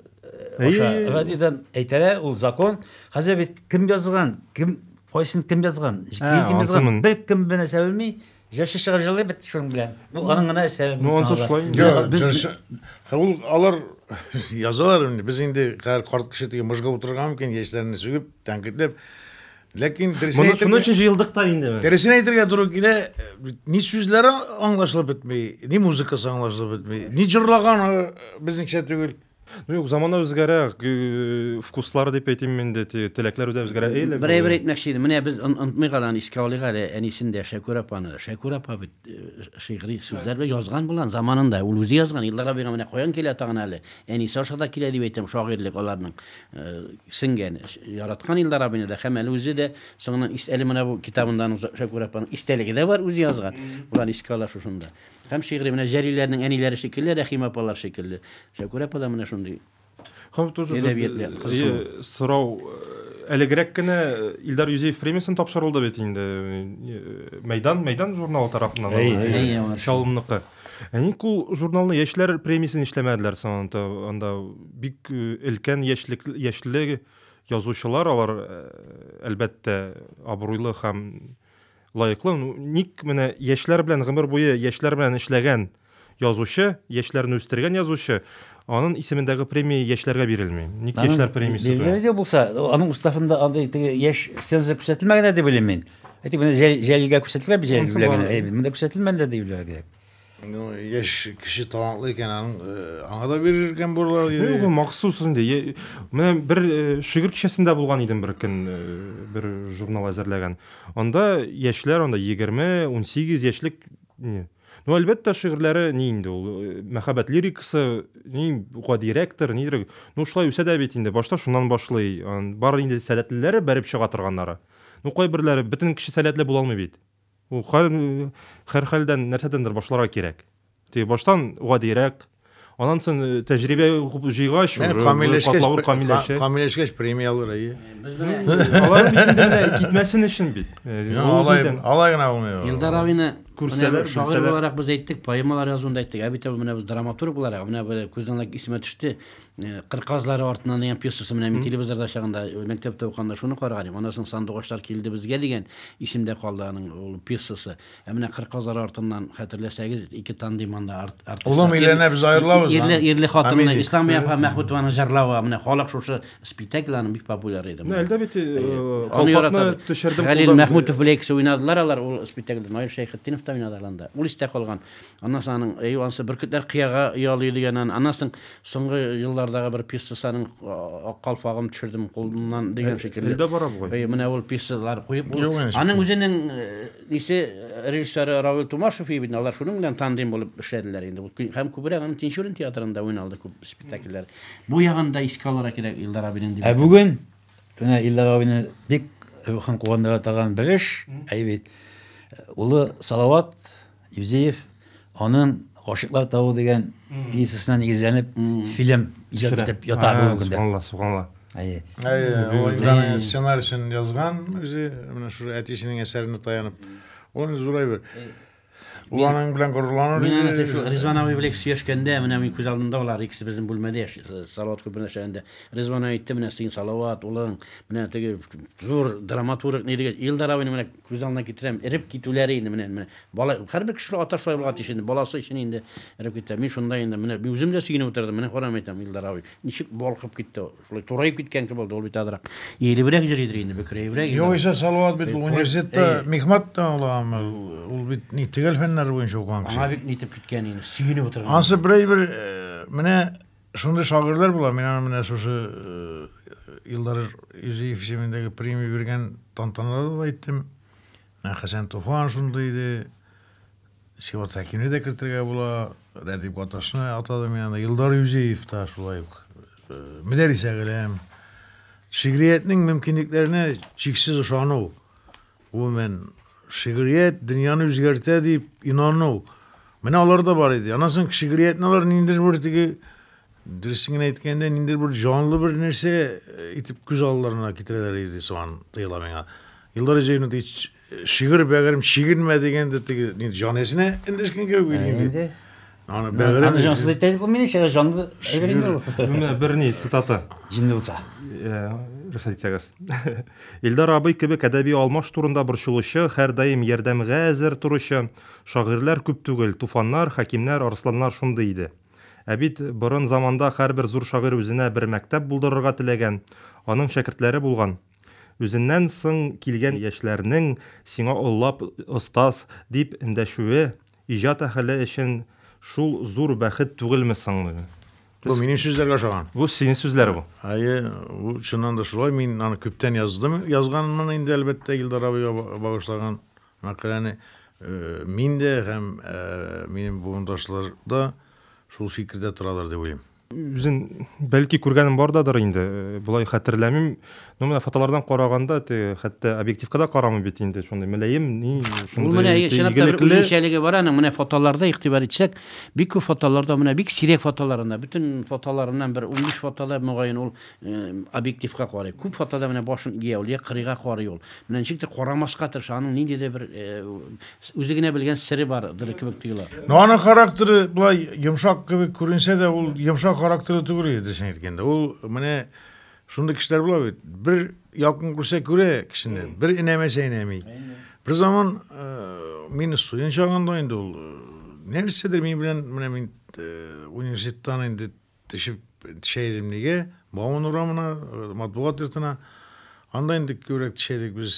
аша радиодан әйтәләр, ул закон. Хәзер бит кем язган, кем кайсын кем язган, кем язган, бер кем бенә сәвелми, Җырчы чыгып җырлый бит шуның белән. Бу аның гына эшләре. Ну, ансы шулай инде. Юк, без- җырчы- Ха, ул алар язалар инде. Без инде хәзер карт кеше теге мыжгып утырырга мөмкин, яшьләрне сүгеп, тәнкыйтьләп. Ләкин дөресен Моны шуның әйтергә, өчен җыелдык та инде. дөресен әйтергә туры килә, ни сүзләре аңлашылып бетми, ни музыкасы аңлашылып бетми, ни җырлаганы безнеңчә түгел. Ну юк, замана үзгәрә, вкуслар дип әйтим мин дә, теләкләр дә үзгәрә. Берәй бер әйтмәкче идем, менә без онытмыйк әле, аны искә алыйк әле, әнисен дә, Шәкүр апаны. Шәкүр апа бит шигъри сүзләр белән язган булган заманында, ул үзе язган. Илдар абыйга менә каян килә тагын әле, әнисе аша да килә дип әйтәм, шагыйрьлек аларның сеңгән. Яраткан Илдар абыйны да һәм әле үзе дә соңыннан әле менә бу китабында аның Шәкүр апаның истәлеге дә бар, үзе язган. Боларны искә ала шушында. Һәм шигъри менә Җәлилләрнең әниләре шикелле, Рәхимә апалар шикелле. Шәкүрә апа да менә шундый. Һәм тоже әдәбиятле кызыксыну. Сорау әлегрәк кенә Илдар Юзеев премиясен тапшырылды бит инде. Мәйдан, Мәйдан журналы тарафыннан алынды. Чалымныкы. Ә ник ул журналны яшьләр премиясен эшләмәделәр соң анда? Бик өлкән яшьлек яшьле язучылар алар, әлбәттә, абруйлы һәм Лаеклы, ну, ник менә яшьләр белән гомер буе яшьләр белән эшләгән язучы, яшьләрне үстергән язучы, анын исемендәге премия яшьләргә бирелми? Ник яшьләр премиясе туя? Бирелгән иде булса, аның уставында андый теге яшь ценза күрсәтелмәгән иде дип уйлыйм мин. Әйтик, менә Җәлилгә күрсәтелгән бит, Җәлил белән генә, монда күрсәтелмәгән дә дип уйларга кирәк. Ну, яшь кеше талантлы икән, аның аңа да бирер икән бурлар. Юк, махсус инде. Менә бер шигырь кичәсендә булган идем бер көн, бер журнал әзерләгән. Анда яшьләр, анда 20, 18 яшьлек Ну, әлбәттә, шигырьләре ни инде ул, мәхәббәт лирикасы, ни гадирәктер, нидер. Ну, шулай үсә дә бит инде. Башта шуннан башлый. Бар инде сәләтлеләре бәреп чыга торганнары. Ну, кайберләре бөтен кеше сәләтле була алмый бит. Ул һәрхәлдән нәрсәдәндер башларга кирәк. Ди баштан гадирәк, аннан соң э, тәҗрибә күп җыйгач, уже катлавы камилләшә. Камилләшкәч премияләр әйе. Алар бит инде менә китмәсен өчен бит. Алай алай гына булмый. Илдар абыны күрсәләр, шагыйрь буларак без әйттек, поэмалар язуында әйттек. Ә бит ул менә без драматург буларак, менә бер күздән исемә төште. Кыр казлары артыннан дигән пьесасы менә мин телевизорда чагында мәктәптә уканда шуны караган идем. Аннан соң Сандугачлар килде безгә дигән исемдә калды аның ул пьесасы. Ә менә Кыр казлары артыннан хәтерләсәгез, ике тандем анда артистлар. Улым өйләнә без аерылабыз. Ирле ирле хатынны Ислам апа Мәхмүтованың җырлавы менә халык шушы спектакль аның бик популяр иде. Менә әлдә бит колфакны төшердем. Хәлил Мәхмүтов белән икесе уйнадылар алар ул спектакльдә. Наил Шәйхетдинов та уйнады анда. Ул истә калган. Аннан соң аның әй ансы бөркетләр кыяга ялый дигән аны. Аннан соң соңгы еллардагы бер пьесасының а, калфагын төшердем кулымнан дигән шикелле. Илдә бара бугай. Әй, менә ул пьесалар куеп ул- Юк, янәшә. Аның үзенең э, исе э, режиссеры Равил Тумашев и бит, алар шуның белән тандем булып эшләделәр инде. Ул кө- Һәм күбрәк аның Тинчурин театрында уйналды күп спектакльләр. Бу ягын да искә алырга кирәк Илдар абинең дип. Ә бүген менә Илдар абыйны бик рухын куандыра торган бер эш, әй бит, улы Салават Юзеев аның Гашыйклар тавы дигән пьесасына нигезләнеп фильм иҗат итеп ята бүгенге көндә. Субханалла, субханалла. Әйе. Әйе, ул инде аның сценарисен язган үзе, менә шул әтисенең әсәренә таянып. Ул зур әйбер. Ул аның белән горурланыр иде. Менә шул Ризван абый белән сөйләшкәндә, менә мин күз алдымда алар икесе безнең бүлмәдә яши, Салават клубында эшләгәндә. Ризван әйтте, менә син Салават улың, менә теге зур драматург, ни диген, Илдар абыйның менә Күз алдына китерәм, эреп китүләре инде, менә, менә. Бала, һәрбер кеше ата шулай булырга тиеш инде, баласы өчен инде эреп китә. Мин шунда инде, менә, мин үзем дә сөенеп утырдым, менә карам әйтәм, Илдар абый, ничек балкып китте, шулай тураеп киткән кебек булды, ул бит азрак иелебрәк йөри идер инде, бөкрәебрәк. Югыйсә Салават бит университетта мехмат та ала, ул бит ни төгәл фәннәр буенча укыган кеше. Аңа бит нитеп киткән инде, сөенеп утырган. Ансы берәй бер, менә Шундый шагыйрьләр була, мин аны менә шушы Илдар Юзеев исемендәге премия биргән тантаналарда да әйттем. Менә Хәсән Туфан шундый иде. Сиват Хәкимне дә кертергә була. Рәдип Гаташны атадым мин анда. Илдар Юзеев та шулай ук. Мөдәррис әгәрәм. Шигриятнең мөмкинлекләренә чиксез ышану. Гомумән, шигърият дөньяны үзгәртә дип инану. Менә алар да бар иде. Аннан соң шигъриятне алар ниндидер бер теге дөресен генә әйткәндә, ниндидер бер җанлы бер нәрсә э, итеп күз алларына китерәләр иде сыман тоела миңа. Илдар Зәйнов ди, шигырь бәгырем шигенмә дигәндә теге җан иясенә эндәшкән кебек бит инде. Аны бәгырем. Аны җансыз әйтә дип булмый ничә җанлы әйбер инде ул. Менә бер ни цитата. Җинле булса. Рөхсәт итсәгез. Илдар абый кебек әдәби алмаш турында борчылучы, һәрдаим ярдәмгә әзер торучы шагыйрьләр күп түгел, Туфаннар, Хәкимнәр, Арсланнар шундый иде. Ә бит борын заманда һәрбер зур шагыйрь үзенә бер мәктәп булдырырга теләгән, аның шәкертләре булган. Үзеннән соң килгән яшьләрнең сиңа олылап остаз дип эндәшүе, Иҗат әхеле өчен шул зур бәхет түгелме соң бу? Бу минем сүзләргә ошаган. Бу синең сүзләр бу. Әйе, бу чыннан да шулай. Мин аны күптән яздым. Язганмын инде, әлбәттә, Илдар абыйга багышлаган мәкаләне. Мин дә һәм минем буындашлар да шул фикердә торалар дип уйлыйм. үзен бәлки күргәнем бардадыр инде э, болай хәтерләмим но менә фотолардан караганда теге хәтта объективка да карамый бит инде шундый мөлаем ни шундый менә чынлап та бер үзенчәлеге бар аның менә фотоларда игътибар итсәк бик күп фотоларда менә бик сирәк фотоларында бөтен фотоларыннан бер унбиш фотода мөгаен ул э, объективка карый күп фотода менә башын ия ул я кырыйга карый ул менә ничектер карамаска тырыша аның ниндидер бер э, Үзе генә белгән сере бар дыр кебек тоела. Ну, аның характеры былай йомшак кебек күренсә дә, ул йомшак характеры түгел иде, дөресен әйткәндә. Ул менә шундый кешеләр була бит. Бер якын күрсә күрә кешене, бер инәмәсә инәми. Бер заман э, мин студент чагында инде ул э, нәрсәдер мин белән менә мин э, университеттан инде төшеп төшә идем нигә? Бауман урамына, матбугат йортына. Анда инде күбрәк төшә идек без.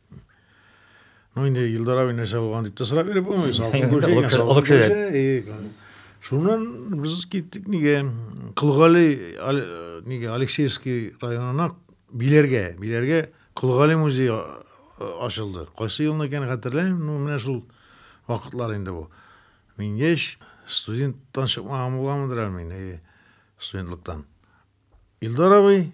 Ну инде Илдар абый нәрсә булган дип тә сорап биреп булмый, салкын күрше, салкын күрше. Шуннан без киттек нигә? Кылгали нигә Алексеевский районына Биләргә, Биләргә Кылгали музее ачылды. Кайсы елны икән хәтерләмим, ну менә шул вакытлар инде бу. Мин яшь студенттан чыкмаган булганмындыр әле мин, студентлыктан. Илдар абый,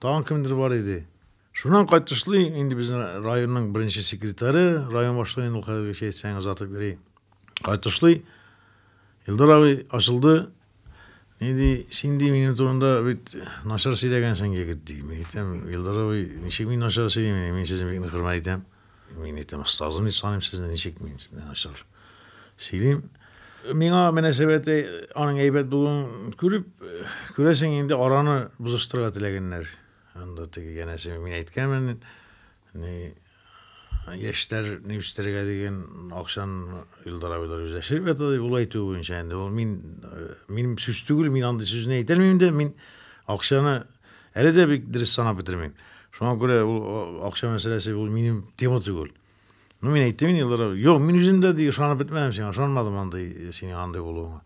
тагын кемдер бар иде. Шуннан кайтышлый, инде безнең районның беренче секретаре, район башлыгы ул хәзергечә әйтсәң озатып йөри. Кайтышлый, Илдар абый ачылды. Ни ди, син ди минем турында бит начар сөйләгәнсең, егет, ди. Мин әйтәм, Илдар абый, ничек мин начар сөйлим, мин сезне бик хөрмәт итәм. Мин әйтәм, остазым дип саныйм сезне, ничек мин сезне начар сөйлим. Миңа мөнәсәбәте аның әйбәт булуын күреп, күрәсең инде араны бозыштырырга теләгәннәр. Анда теге янәсе мин әйткәнмен, ни яшьләрне үстерергә дигән акчаны Илдар абыйлар үзләшеп ята дип, ул әйтүе буенча инде ул мин минем сүз түгел, мин андый сүзне әйтәлмим дә, мин акчаны Әле дә бик дөрес санап бетермим. Шуңа күрә ул акча мәсьәләсе ул минем тема түгел. Ну, мин әйттем инде еллар. Юк, мин үзем дә ди ышанып бетмәдем сиңа, ышанмадым андый э, синең андый булуыңа.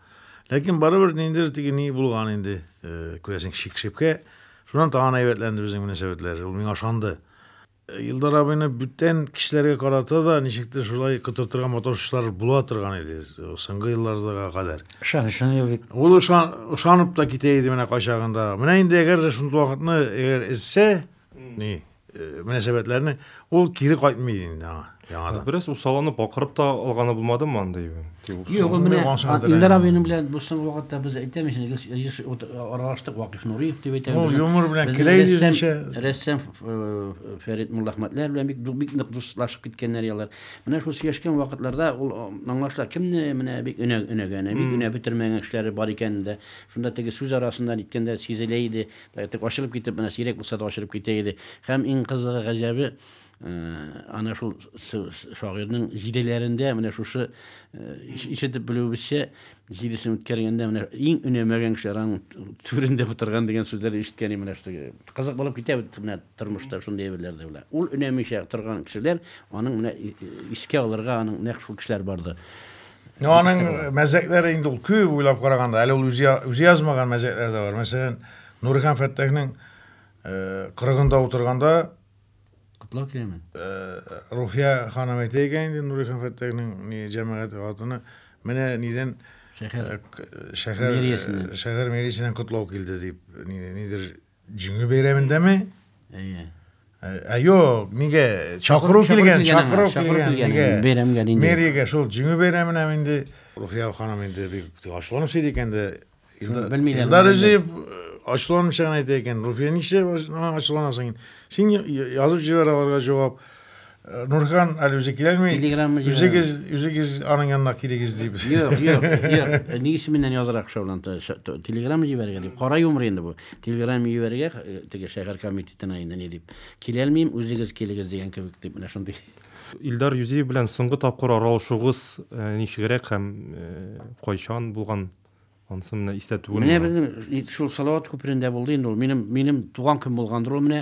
Ләкин барыбер ниндидер теге ни булган инде, э, күрәсең, шик-шепкә. Шуннан тагын әйбәтләнде безнең мөнәсәбәтләр. Ул миңа ышанды. Илдар абыйны бүтән кешеләргә карата да ничектер шулай котыртырга маташышлар була торган иде соңгы елларга кадәр. Ышанычын юк бит. Ул ышан, ышанып та китә иде менә кайчагында. Менә инде әгәр дә шундый вакытны әгәр эзсә, ни, э, мөнәсәбәтләрне, ул кире кайтмый инде аңа. Яңадан. Бераз усалланып, бакырып та алганы булмадымы андый? Юк, менә Илдар абыйның белән бу соңгы вакытта без әйтәмиз, еш аралаштык Вакыйф Нуриев дип әйтәбез. Ул юмор белән киләй дигәнчә. Рәссам Фәрит Муллахмәтләр белән бик бик нык дуслашып киткәннәр ялар. Менә шул сөйләшкән вакытларда ул аңлашыла, кемне менә бик өнә өнәгәне, бик өнә бетермәгән кешеләре бар икәнен дә. Шунда теге сүз арасында ниткәндә сизелә иде. Ачылып китеп, менә сирәк булса да ачылып китә иде. Һәм иң кызыгы, гаҗәбе, Ана шул шагыйрьнең җиделәрендә менә шушы ишетеп белүебезчә җидесен үткәргәндә менә иң өнәмәгән кеше аның түрендә утырган дигән сүзләрне ишеткән менә шушы кызык булып китә бит менә тормышта шундый әйберләр дә белә ул өнәмичә торган кешеләр аның менә искә алырга аның нәкъ шул кешеләр бардыр Ну, аның мәзәкләре инде ул күп уйлап караганда, әле ул үзе үзе язмаган мәзәкләр дә бар. Мәсәлән, Нурихан Фәттахның кырыгында утырганда Котлау киләме? Руфия ханым әйтә икән инде, Нурый хан Фәттәхнең ни җәмәгать хатыны. Менә нидән шәһәр шәһәр мэриясеннән шәһәр мэриясеннән котлау килде дип, нидер җиңү бәйрәмендәме? Әйе. Ә юк, нигә чакыру килгән, чакыру килгән, нигә бәйрәмгә инде. Мэрияга шул җиңү бәйрәменә инде Руфия ханым инде бик ачуланып сөйли икән дә, Шуны белмиләр. Илдар Рәҗиев ачуланмыйча гына әйтә икән. Руфия нишләп моңа ачуланасың инде? Син язып җибәр аларга җавап. Нурхан әле үзе киләлми. Телеграмма җибәр. Үзегез, үзегез аның янына килегез дип. Юк, юк, юк. Ни исеменнән язырак шул анда? Телеграмма җибәрергә дип. Кара юмыр инде бу. Телеграмма җибәрергә теге шәһәр комитетына инде ни дип. Киләлмим, үзегез килегез дигән кебек дип менә шундый. Илдар Юзиев белән соңгы тапкыр аралашуыгыз ничегрәк һәм кайчан булган? Анысы менә истә түгел. Менә безнең шул Салават күперендә булды инде ул. Минем минем туган көн булгандыр ул менә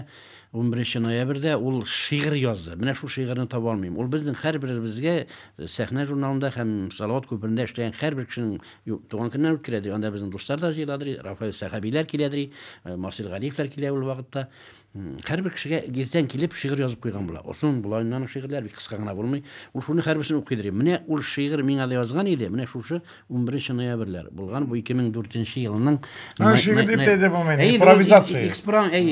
11 ноябрьдә ул шигырь язды. Менә шул шигырьне таба алмыйм. Ул безнең һәрберебезгә э, сәхнә журналында һәм Салават күперендә эшләгән һәрбер кешенең туган көннән үткәрәдер. Анда безнең дуслар да җыеладыр, Рафаэль Сәхәбиләр киләдер, э, Марсель Галиевләр килә ул вакытта. Һәрбер кешегә иртән килеп шигырь язып куйган була. Озын була инде аның шигырьләре, бик кыска гына булмый. Ул шуны һәрберсен укыйдыр. Менә ул шигырь миңа да язган иде. Менә шушы 11 ноябрьләр булган. Бу 2004 елның Аны шигырь дип тә әйтә булмый, инде, импровизация.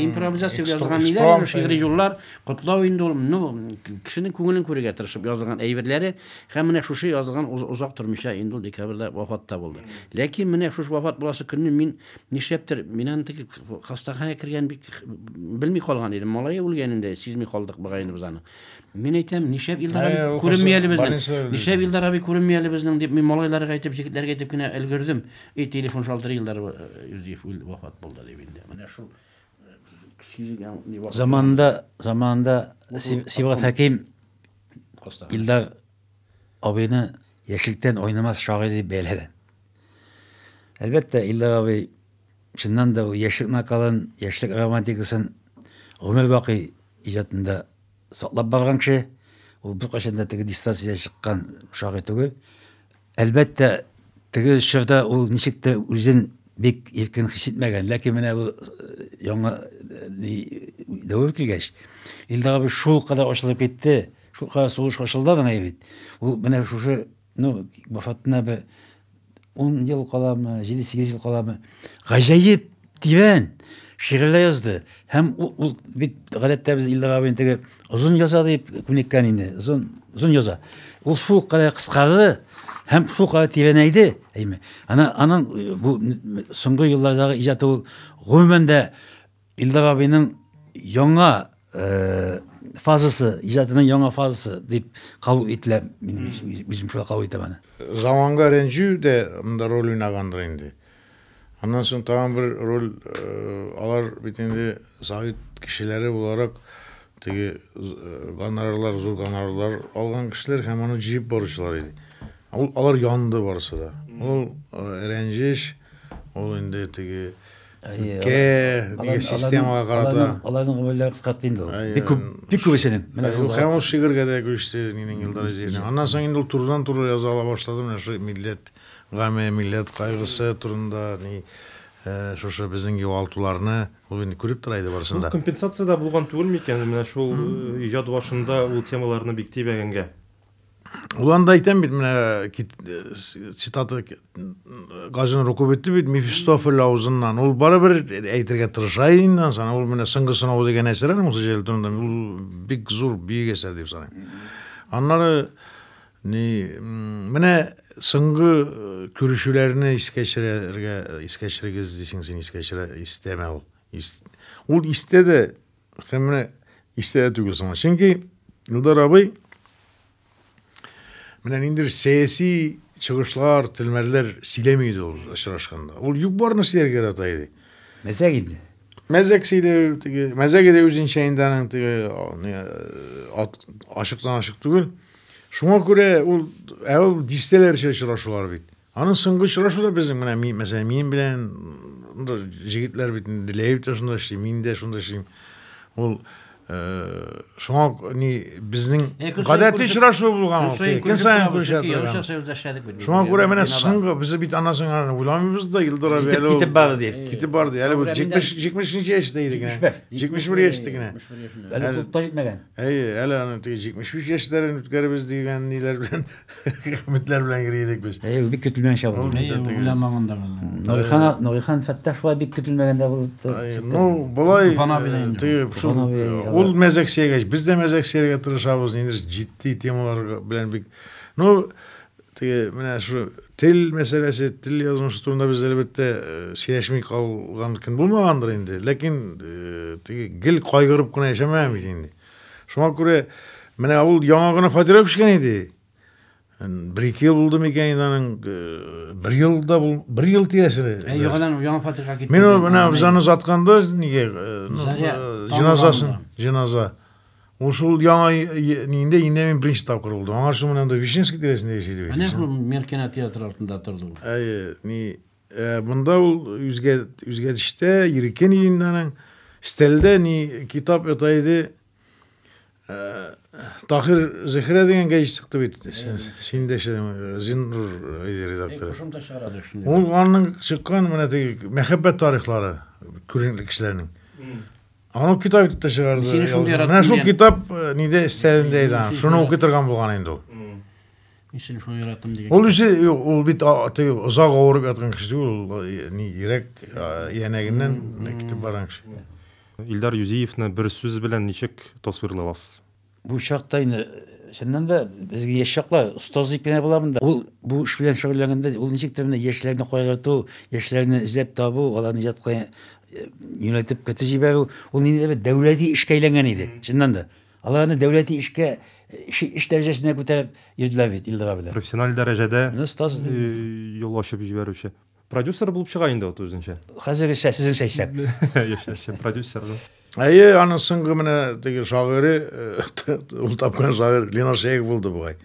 Импровизация язган иде ул шигырь юллар, котлау инде ул. Ну, кешенең күңелен күрергә тырышып язган әйберләре. Һәм менә шушы язган озак тормыйча инде ул декабрьдә вафат та булды. Ләкин менә шушы вафат буласы көнне мин Нишләптер, мин аны теге хастаханәгә кергән бик белми калган идем. Малае үлгән инде, сизми калдык бугаеныбыз аны. Мин әйтәм, нишләп Илдар абый Әй, ул күренми әле хас- безнең? больница- Нишләп Илдар абый күренми әле безнең дип мин малайларга әйтеп, җегетләргә әйтеп кенә өлгердем. И телефон шалтырый Илдар абый, э, Юзеф үл вафат булды дип инде. Менә шул э, сизгән ни вакыт Заманында, заманында Си- Сибгат Хәким хастаханә. Илдар абыйны яшьлектән уйнамас шагыйрь дип бәяләгән. Әлбәттә, Илдар абый чыннан да яшьлек накалын, яшьлек романтикасын гомер бакый иҗатында саклап барган кеше. Ул беркайчан да теге дистанциягә чыккан шагыйрь түгел. Әлбәттә, теге чорда ул ничек тә үзен бик иркен хис итмәгән, ләкин менә бу э, яңа э, дәвер килгәч, Илдар абый шул кадәр ачылып китте, шул кадәр сулыш ачылды аңа бит. Ул менә шушы Ну, вафатына бе 10 ел каламы, 7-8 ел каламы. Гаҗәеп, тирән шигырьләр язды. Һәм ул бит гадәттә без Илдар абый инде озын яза дип күнеккән инде. Озын, озын яза. Ул шул кадәр кыскарды һәм шул кадәр тирәнәйде. Әйме. Ана аның э, бу соңгы еллардагы иҗаты ул гомумән дә Илдар абиның яңа э, фазасы, иҗатының яңа фазасы дип кабул ителә. Мин үзем шулай кабул итәм аны. Заманга рәнҗү дә монда роль уйнагандыр инде. Аннан соң тагын бер роль э, алар бит инде совет кешеләре буларак теге э, гонорарлар, зур гонорарлар алган кешеләр һәм аны җыеп баручылар иде. Ул алар янды барысы да. Ул э, рәнҗеш, ул инде теге Кә, нигә системага карата. Аларның гомерләре кыскартты инде ул. Бик күп, бик күп эшләдем. Менә шул. Һәм ул шигырьгә дә күчте, минем Илдар Җирнең. Аннан соң инде ул турыдан туры яза ала башлады, менә шул милләт гаме, милләт кайгысы турында, ни Э, шушы безнең югалтуларны ул инде күреп тора иде барысын да компенсация да булган түгел микән менә шул э, иҗат башында ул темаларны бик тибәгәнгә Ул анда әйтәм бит, менә э, цитата Газин рукуп итте бит Мефистофель авызыннан. Ул барыбер әйтергә тырыша инде, ансана ул менә соңгы сынау дигән әсәр аның үзе җәлтүндә. Ул бик зур бөек әсәр дип саныйм. Аннары ни менә соңгы э, күрешүләрне искә төшерергә искә төшерегез дисең син искә төшерә истәмә ул. Ул истә дә Һәм менә истә дә түгел соңа. Чөнки Илдар абый менә ниндидер сәяси чыгышлар, телмәрләр сөйләми иде ул очрашканда. Ул юк барны сөйләргә ярата иде. Мәзәк инде. Мәзәк сөйләү, теге мәзәге дә үзенчә инде аның теге ашыктан ашык түгел. Шуңа күрә ул ә ул дистәләрчә очрашулар бит. Аның соңгы очрашу да безнең менә мин, мәсәлән, минем белән монда җегетләр бит Ләев тә шунда эшли, мин дә шунда эшлим. Ул э, шуңа ни безнең Э, көн саен гадәти күршек- очрашу булган ул. Көн Көн саен күршә Яучак торган. союзда эшләдек бит. Шуңа күрә менә Бинада. соңгы без бит аннан соң аны уйламыйбыз да Илдар абый Китеп- әле ул- китеп барды дип. Э, Китеп барды. Әле бу Шуңа күрә 70 миндә- 70 ничә яшьтә иде генә. 71. 71 яшьтә генә. 71 яшендә. Әле клубта җитмәгән. Әйе, әле аны теге 73 яшьләрен үткәребез дигән ниләр белән Хәмитләр белән йөри идек без. Әйе, бик көтелмәгән чак булды. Әйе, үлән маңында булды. Нурихан, Нурихан Фәттах шулай бик көтелмәгәндә булды. Ну, болай тыеп шул. Ул мәзәк сөйгәч, без дә мәзәк сөйгә тырышабыз, инде җитди темалар белән бик. Ну, теге менә шу тел мәсьәләсе, тел язмышы турында без әлбәттә сөйләшми калган көн булмагандыр инде. Ләкин теге гел кайгырып кына яшәмәгән бит инде. Шуңа күрә менә ул яңа гына фатирга күчкән иде. Бер ике ел булды микән инде аның э, бер ел да бул, бер ел тирәсендә. Ә яңадан яңа фатирга китте. Мин менә без аны затканда нигә э, ну, э, җеназасын, җеназа. Ул шул яңа инде инде мин беренче тапкыр булдым. Аңа шул менә анда Вишневский тирәсендә яши иде. Менә шул Меркена театры артында торды ул. Әйе, ни Ә монда ул үзгә үзгәдештә иркен иленнәнең стәлдә ни китап ята иде. Тахир Зихрә дигән гәҗит чыкты бит. Син дә Зиннур редактор. Ул аның чыккан менә теге мәхәббәт тарихлары күренекле кешеләрнең. Аны китап итеп тә чыгарды. Менә шул китап ниде стәлендә иде. Шуны укый торган булган инде ул. Мин телефон яратам дигән. Ул үзе ул бит теге озак авырып яткан кеше түгел, ул э, ни йөрәк янәгеннән китеп барган кеше. Илдар Юзиевны бер сүз белән ничек тасвирлый аласыз? Бу чакта инде чыннан да безгә яшь чакла остаз дип кенә буламын да. Ул бу эш белән шөгыльләнгәндә ул ничек тә менә яшьләрне кайгырту, яшьләрне эзләп табу, аларны иҗатка э, юнәлтеп кертеп җибәрү, ул ниндидер бер дәүләти эшкә әйләнгән иде, чыннан да. Алар аны дәүләти эшкә эш дәрәҗәсенә күтәреп йөрделәр бит Илдар абыда. Профессиональ дәрәҗәдә юл ачып җибәрүче. Продюсер булып чыга инде ул үзенчә. Хәзергечә сезнеңчә исәп. Яшьләрчә продюсер. Әйе, аның соңгы менә теге шагыйре, ул тапкан шагыйрь Ленар Шәех булды бугай.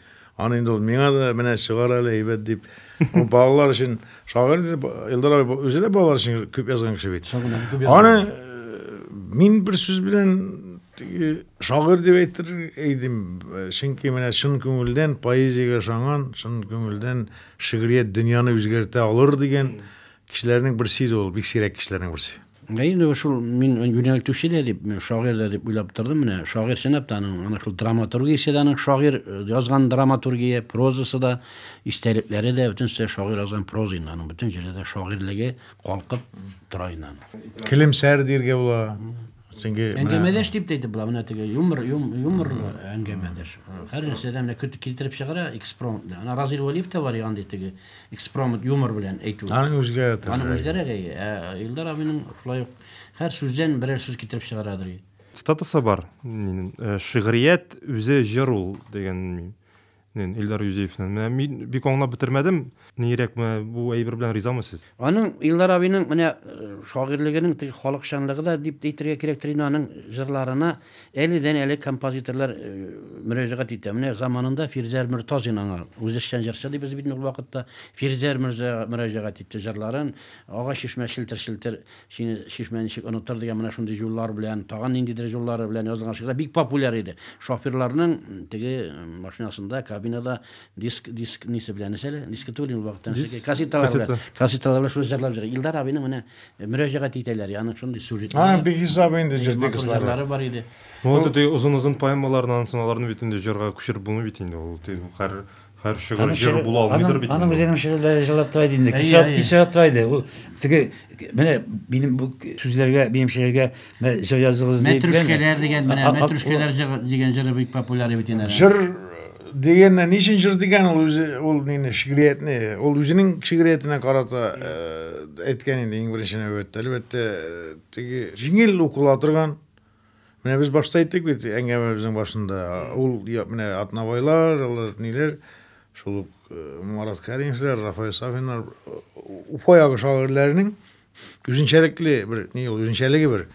Аны инде ул миңа да менә чыгар әле әйбәт дип. Ул балалар өчен шагыйрь дип Илдар абый үзе дә балалар өчен күп язган кеше бит. Аны э, мин бер сүз белән теге шагыйрь дип әйтер идем. Чөнки менә чын күңелдән поэзиягә ышанган, чын күңелдән шигърият дөньяны үзгәртә алыр дигән Кешеләрнең берсе иде ул, бик сирәк кешеләрнең берсе. Ә инде шул мин юнәлтүче дә дип, шагыйрь дә дип уйлап тордым. Менә шагыйрь чынлап та аның ана шул драматургиясе дә аның шагыйрь язган драматургия, прозасы да, истәлекләре дә бөтенесе шагыйрь язган проза инде аның бөтен җирдә дә шагыйрьлеге калкып тора инде аның. Килемсәр диергә була. Чөнки әңгәмәдәш дип әйтеп була, менә теге юмор, юмор әңгәмәдәш. Һәр нәрсәдән менә көтеп китереп чыгара экспромт белән. Ана Разил Валиев та бар янды теге экспромт юмор белән әйтү. Аны үзгәрә тә. Аны үзгәрә гәй. Ә Илдар абының шулай ук һәр сүздән берәр сүз китереп чыгарадыр. Статусы бар. Э, шигърият үзе җыр ул дигән Мин Илдар Юзеевны менә мин бик аңлап бетермәдем. Нирәк менә бу әйбер белән ризамы сез? Аның Илдар абыйның менә шагыйрьлегенең теге халыкчанлыгы да дип тә әйтергә кирәктер инде, аның җырларына әледән-әле композиторлар мөрәҗәгать итә. Менә заманында Фирзәр Мөртазин аңа, үзешчән җырчы дибез бит ул вакытта, Фирзәр мөрзә мөрәҗәгать итте җырларын, Агач чишмә челтер-челтер, Сине, Чишмә, ничек онытыр дигән менә шундый җуллар белән, тагын ниндидер җуллары белән язылган шигырьләр бик популяр иде. Шоферларның теге машинасында, кабинада диск, диск нисе белән, нәрсә әле? Диск түгел инде вакыттан Диск, ничек, кассеталар белән, кассета. кассеталар белән шуны җырлап җырлый. Илдар абыйның менә мөрәҗәгать итәләр, яның шундый А, сюжетлары, бихисап инде җырчы матур кызлары. җырлары бар иде. Ну, вот эти озын-озын поэмаларны, ансын аларны бит инде җырга күчереп булмый бит инде, ул тиз, хәр, Хәр шигырь җыр була алмыйдыр бит. Аның үзенең шигырьләре җырлатыла иде инде. Кисә кисәтла иде. Ул теге менә минем бу сүзләргә, минем шигырьгә җыр языгыз дип. Мәтрүшкәләр дигән менә мәтрүшкәләр җыр дигән җыры бик популяр бит инде. Җыр дигәннән ни өчен җыр дигән ул үзе ул нинди шигъриятне ул үзенең шигъриятенә карата әйткән инде иң беренче нәүбәттә әлбәттә теге җиңел укыла торган Менә без башта әйттек бит әңгәмәбезнең башында. Ул менә Атнабайлар, алар ниләр, шул ук э, Марат Кәримовлар, Рафаэль Сафиннар, э, Уфа ягы шагыйрьләренең үзенчәлекле бер ни ул, үзенчәлеге бер.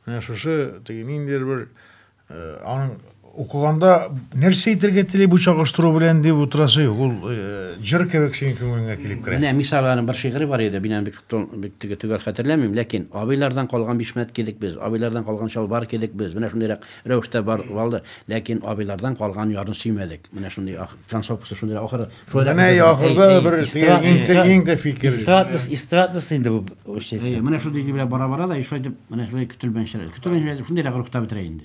Менә шушы теге ниндидер бер э, аның Укыганда нәрсә әйтергә тели бу чагыштыру белән дип утырасы юк. Ул э, җыр кебек синең күңелеңә килеп керә. Менә мисал аның бер шигыре бар иде, мин аны бик бик теге төгәл хәтерләмим, ләкин абыйлардан калган бишмәт кидек без, абыйлардан калган чалбар кидек без. Менә шундыйрак рәвештә бар валды, ләкин абыйлардан калган ярны сөймәдек. Менә шундый ах- концовкасы шундыйрак ахыры. Шулай Менә да- ахырда Әй, әй, бер эстрад- иң эстрад- иң дә фикер. Эстрадность, эстрадность инде бу Әйе, эшчесе. менә шундый җил белән бара-бара да, и шулай итеп, менә шулай көтелмәенчә, көтелмәенчә шундыйрак рухта бетерә инде.